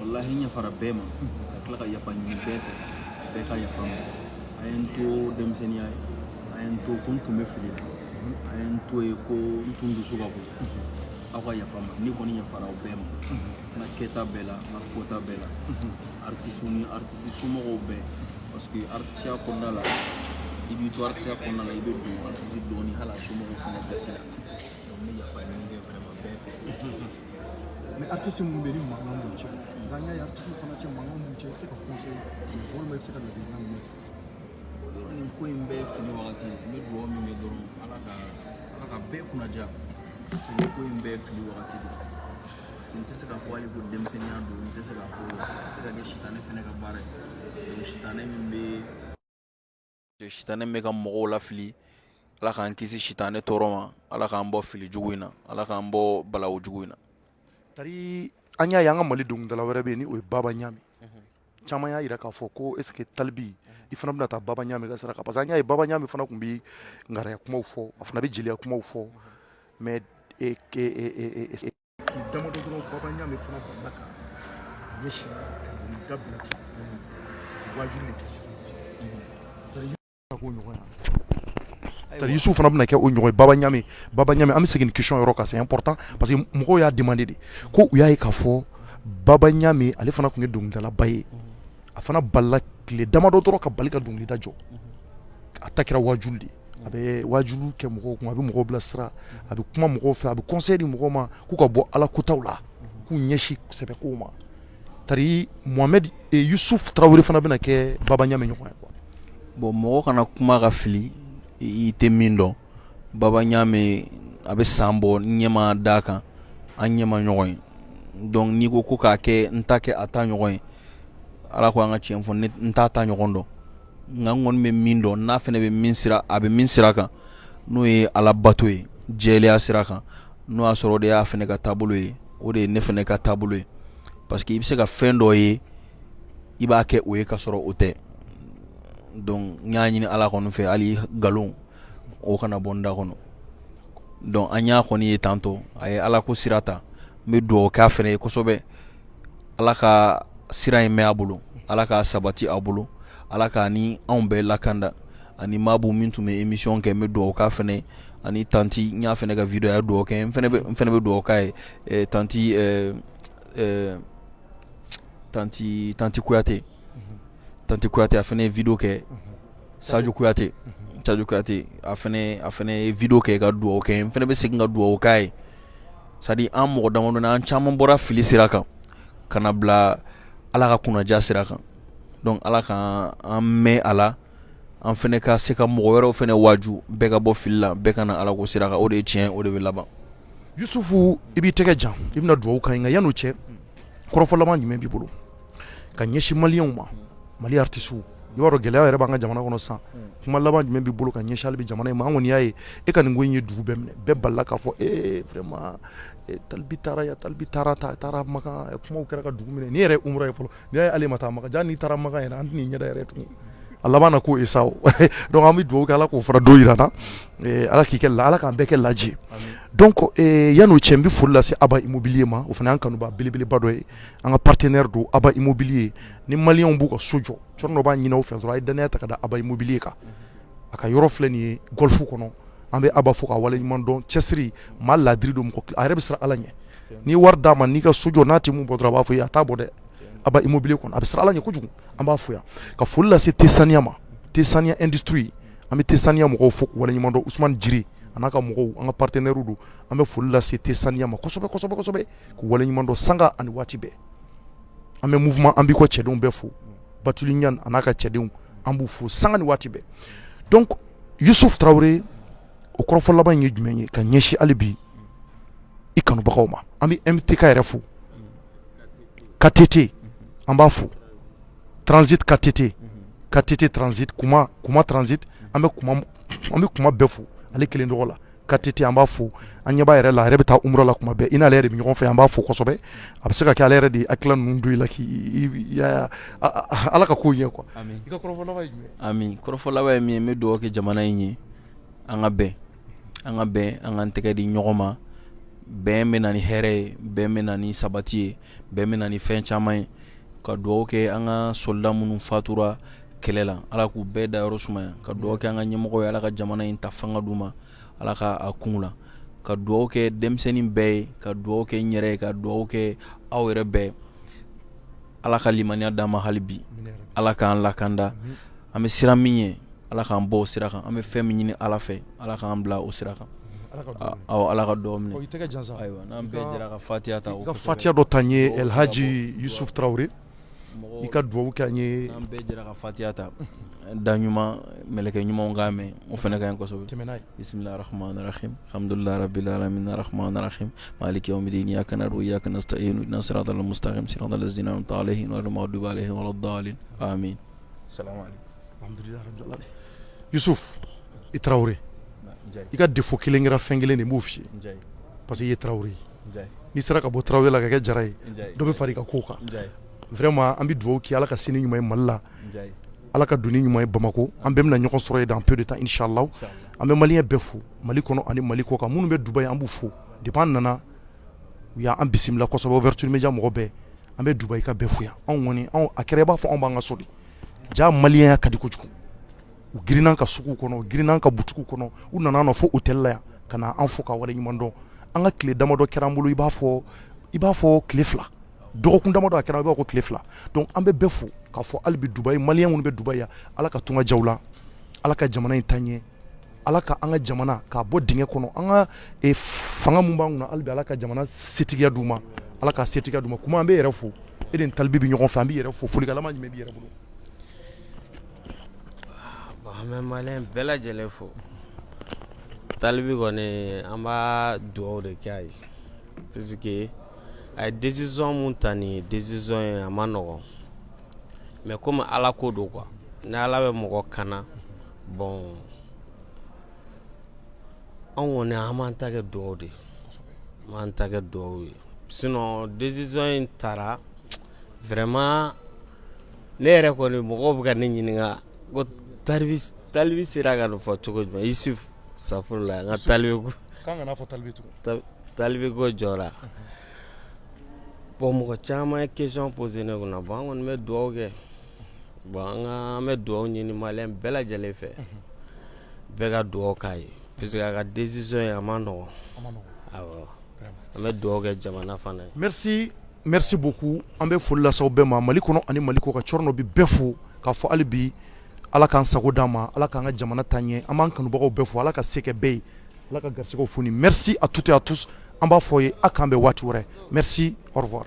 Speaker 3: walahi n yafara bɛɛ ma ka tila ka yafa ɲini bɛɛ fɛ bɛɛ ka yafa n ma a ye n to denmisɛnninya ye a ye n to ko n tun bɛ fili la a ye n to ye ko n tun dusu ka bon aw ka yafa n ma ne kɔni yafara aw bɛɛ ma n ka kɛta bɛɛ la n ka fɔta bɛɛ la artisiw ni artisi somɔgɔw bɛɛ parce que artisiya kɔnɔna la i b'i to artisiya kɔnɔna la i bɛ don artisi dɔ ni hali a somɔgɔw fana gasi la donc n bɛ yafa ɲini kɛ vraiment bɛɛ fɛ
Speaker 2: Mais artiste min bɛ yen ni mankan b'u cɛ nka an y'a ye artiste fana cɛ mankan b'u cɛ i bɛ se ka conseil walima i bɛ se ka ladilikan min fɔ yɔrɔ nin
Speaker 3: ko in bɛɛ fili wagati n bɛ dugawu min kɛ dɔrɔn ala ka ala ka bɛɛ kunnaja parce que nin ko in bɛɛ fili wagati de parce que n tɛ se k'a fɔ hali ko denmisɛnninya don n tɛ se k'a fɔ a bɛ se ka kɛ sitanɛ fana ka baara ye sitanɛ min bɛ sitanɛ bɛ ka mɔgɔw lafili ala k'an kisi sitanɛ tɔɔrɔ ma ala k'an bɔ fili jugu in na ala k'an bɔ balawu jugu in na tari
Speaker 2: an y'a ye an ka mali dɔnkilidala wɛrɛ bɛ yen ni o ye baba ɲami caman y'a jira k'a fɔ ko est ce que tal b i fana bɛna taa baba ɲami ka sira kan parce que an y'a ye baba ɲami fana tun bɛ ngaraya kumaw fɔ a fana bɛ jeliya kumaw fɔ mais tile damadɔ dɔrɔn baba ɲami fana balila ka ɲɛsin ka nin dabila ten wajuli de kɛ sisan k'o ɲɔgɔn ya tari yusuf fana bɛna kɛ o ɲɔgɔn ye baba ɲami baba ɲami an bɛ segin question yɔrɔ kan c'est important parce que mɔgɔw y'a demandé de ko u y'a ye k'a fɔ baba ɲami ale fana tun ye dɔnkilidalaba ye a fana balila tile damadɔ dɔrɔn ka bali ka dɔnkilida jɔ a ta kɛra wajuli de a bɛ wajuli kɛ mɔgɔw kun a bɛ mɔgɔw bilasira a bɛ kuma mɔgɔw fɛ a bɛ conseil di mɔgɔw ma k'u ka bɔ ala kutaw la k'u ɲɛsin sɛbɛ ko ma tari mohamed yusuf tarawele fana bɛna kɛ baba ɲami ɲɔgɔn ye quoi bon mɔgɔ
Speaker 3: kana kuma ka fili i tɛ min dɔn baba ɲami a bɛ san bɔ n ɲɛ ma da a kan an ɲɛ ma ɲɔgɔn ye donc n'i ko ko k'a kɛ n ta kɛ a ta ɲɔgɔn ye ala ko an ka cɛn fɔ n t'a ta ɲɔgɔn dɔn Nka n kɔni bɛ min dɔn n'a fana bɛ min sira a bɛ min sira kan n'o ye ala bato ye jɛlenya sira kan n'o y'a sɔrɔ o de y'a fana ka taabolo ye o de ye ne fana ka taabolo ye parce que i bɛ se ka fɛn dɔ ye i b'a kɛ o ye ka sɔrɔ o tɛ donc n y'a ɲini ala kɔni fɛ hali nkalon o kana bɔ n da kɔnɔ donc an y'a kɔni ye tantɔ a ye ala ko sira ta n bɛ dugawu k'a fana ye kosɛbɛ Ala ka sira in mɛn a bolo ala k'a sabati a bolo ala k'a ni anw bɛɛ lakanda ani maabu min tun bɛ émission kɛ n bɛ dugawu k'a fana ye ani tanti n y'a fana ka video ye a dugawu kɛ n fana bɛ dugawu k'a ye tanti tanti tanti kuyate tante kuyate a fana ye video kɛ Sajo kuyate Sajo kuyate a fana ye video kɛ ka dugawu kɛ n fana bɛ segin ka dugawu k'a ye c'est à dire an mɔgɔ damadɔ an caman bɔra fili sira kan ka na bila Ala ka kunnaja sira kan donc Ala ka an mɛn a la an fana ka se ka mɔgɔ wɛrɛw fana waaju bɛɛ ka bɔ fili la bɛɛ ka na Ala ko sira kan o de ye tiɲɛ o de bɛ laban. Yusufu
Speaker 2: i b'i tɛgɛ jan i bɛna dugawu k'an ye nka yanni o cɛ kɔrɔfɔ laban jumɛn b'i bolo? ka ɲɛsin maliyɛnw ma mali artistes i b'a dɔn gɛlɛya yɛrɛ b'an ka jamana kɔnɔ sisan kuma laban jumɛn b'i bolo ka ɲɛsin hali bi jamana in ma an kɔni y'a ye e ka nin ko in ye dugu bɛɛ minɛ bɛɛ b'a la k'a fɔ e talibi taara Maka talibi taara Maka kumaw kɛra ka dugu minɛ nin yɛrɛ ye umra ye fɔlɔ n'i y'a ye ale ma taa Maka jaa n'i taara Maka yɛrɛ an tɛ ɲɛ yɛrɛ tugun a laban na k'o ye sa an bɛ dugawu kɛ ala k'o fara don jira an na ala k'i kɛ la ala k'an bɛɛ kɛ laji yann'o cɛ n bɛ foli lase aba immobilier ma o fana y'an kanubaa belebeleba dɔ ye an ka partenaire don aba immobilier ni maliyɛnw b'u ka so jɔ cogo dɔ n b'a ɲini aw fɛ dɔrɔn a ye dannaya ta ka da aba immobilier kan a ka yɔrɔ filɛ nin ye golf kɔnɔ an bɛ aba fo k'a waleɲuman dɔn cɛsiri maa laadiri don a yɛrɛ bɛ siran ala ɲɛ n'i wari d'a ma n'i ka so jɔ n'a tɛ min bɔ dɔrɔn a b'a fɔ a t'a bɔ dɛ aba immobilier kɔnɔ a bɛ siran ala ɲɛ kojugu an b'a fo yan ka foli lase tɛ saniya ma tɛ saniya industrie an bɛ tɛ saniya mɔgɔw fo k'u waleɲuman dɔn usman jiri a n'a ka mɔgɔw an ka partenaire don an bɛ foli lase tɛ saniya ma kosɛbɛ K'u waleɲuman dɔn sanga ani waati bɛɛ an bɛ mouvement an b'i kɔ cɛdenw bɛɛ fo Batuli Ɲanni a n'a ka cɛdenw an b'u fo sanga ni waati bɛɛ donc Youssouf Traoré o kɔrɔfɔ laban in ye jumɛn ye ka ɲɛsin hali bi i kanubagaw ma an bɛ MTK yɛrɛ fo KTT an b'a fo Transit KTT KTT Transit Kuma Kuma Transit an bɛ Kuma an bɛ Kuma bɛɛ fo ale kelen tɔgɔ la KTT an b'a fo an ɲɛ b'a yɛrɛ la a yɛrɛ bɛ taa umra la kuma bɛɛ i n'ale yɛrɛ de bɛ ɲɔgɔn fɛ an b'a fo kosɛbɛ a bɛ se ka kɛ ale yɛrɛ de hakilila ninnu don i la k'i ala ka ko ɲɛ quoi kɔrɔfɔ laban ye min ye n bɛ
Speaker 3: dugawu kɛ jamana in ye an ka bɛn an ka bɛn an ka tɛgɛ di ɲɔgɔn ma bɛn bɛ na ni hɛrɛ ye bɛn bɛ na ni sabati ye bɛn bɛ na ni fɛn caman ye ka dugawu kɛ an ka soldat minnu fatura kɛlɛ la ala k'u bɛɛ da yɔrɔ sumaya ka dugawu kɛ an ka ɲɛmɔgɔ ye ala ka jamana in ta fanga d'u ma ala ka a kun la ka dugawu kɛ denmisɛnnin bɛɛ ye ka dugawu kɛ n yɛrɛ ye ka dugawu kɛ aw yɛrɛ bɛɛ ala ka limaniya d'an ma hali bi ala k'an lakanda an bɛ siran min ye ala k'an bɔ o sira kan an bɛ fɛn min ɲini ala fɛ ala k'an bila o sira kan aw ala ka dugawu minɛ ayiwa n'an bɛɛ jɛra ka fatiya ta ka fatiya dɔ ta
Speaker 2: n ye elhaji yusuf tarawele I ka dugawu kɛ an ye an bɛɛ jɛra ka fatiya
Speaker 3: ta da ɲuman mkɛ ɲumanw kan mɛn o fana ka kosɛbɛ tɛmɛna bisimilaramadrakmadrakmadrakmaalikɛ midi ni a kana don yak siratamutarasiratazdina ta ale hinɛmadu'alehihidadali min sa dususu
Speaker 2: i tarawele i ka de fo kelen kɛra fɛn kelen de b'o fi parce que ye tarawele ye n'i sera ka bɔ tarawele la ka kɛ jara ye dɔ bɛ fara i ka ko kan vraiment an bɛ dugawu kɛ ala ka sini ɲuman ye mali la ala ka donni ɲuman ye bamakɔ an bɛɛ bɛna ɲɔgɔn sɔrɔ ye dans peu de temps inchallah an bɛ maliyɛn bɛɛ fo mali kɔnɔ ani mali kɔkan minnu bɛ dubaï an b'u fo depuis an nana u y'an bisimila kosɛbɛ ouverture média mɔgɔ bɛɛ an bɛ dubaïkaw bɛɛ fo yan anw kɔni a kɛra i b'a fɔ anw b'an ka so ja maliya ka di kojugu u girinna ka sugu kɔnɔ u girinna ka butigi kɔnɔ u nana an fo hôtel la yan ka na an fo ka wale ɲuman dɔn an ka tile damadɔ kɛra an bolo i b'a fɔ i b'a fɔ tile fila dɔgɔkun damadɔ a kɛra i b'a fɔ ko tile fila donc an bɛ bɛɛ fo k'a fɔ hali bi dubaï maliyɛn minnu bɛ dubaï yan ala ka tunga diya aw la ala ka jamana in taa ɲɛ ala ka an ka jamana k'a bɔ dingɛ kɔnɔ an ka e, fanga min b'an kunna hali bi ala ka jamana setigiya d' ma ala ka setigiya d ma kuma an b'i yɛrɛ fo e ni talibi bɛ ɲɔgɔn fɛ an b'i yɛrɛ fo folikalama jumɛn b'i yɛrɛ bolo
Speaker 4: An bɛ maliyɛn bɛɛ lajɛlen fo talibi kɔni an b'a dugawu de kɛ a ye puisque a ye décision min ta nin ye décision ye a man nɔgɔn mais kɔmi ala ko don quoi ni ala bɛ mɔgɔ kana bɔn anw kɔni an b'an ta kɛ dugawu de ye an b'an ta kɛ dugawu ye sinon décision in taara vraiment ne yɛrɛ kɔni mɔgɔw bɛ ka ne ɲininka ko talibi talibi sera ka nin fɔ cogo jumɛn asitafurula n ka talibi ko k'an kana fɔ talibi
Speaker 2: tugun talibi ko jɔra
Speaker 4: bɔn mɔgɔ caman ye question posé ne kunna bɔn an kɔni bɛ dugawu kɛ bɔn an ka an bɛ dugawu ɲini maliyɛn bɛɛ lajɛlen fɛ bɛɛ ka dugawu k'a ye puisque a ka décision ye a man nɔgɔn a man nɔgɔn awɔ an bɛ dugawu kɛ jamana fana ye merci Merci
Speaker 2: beaucoup an bɛ foli lase aw bɛɛ ma Mali kɔnɔ ani Mali kɔkan cɔrnɔ bɛ bɛɛ fo k'a fɔ hali bi Ala k'an sago d'an ma Ala k'an ka jamana taa ɲɛ an b'an kanubagaw bɛɛ fo Ala ka se kɛ bɛɛ ye Ala ka garisigɛw foni merci à toutes et à tous an b'a fɔ aw ye a k'an bɛn waati wɛrɛ merci au revoir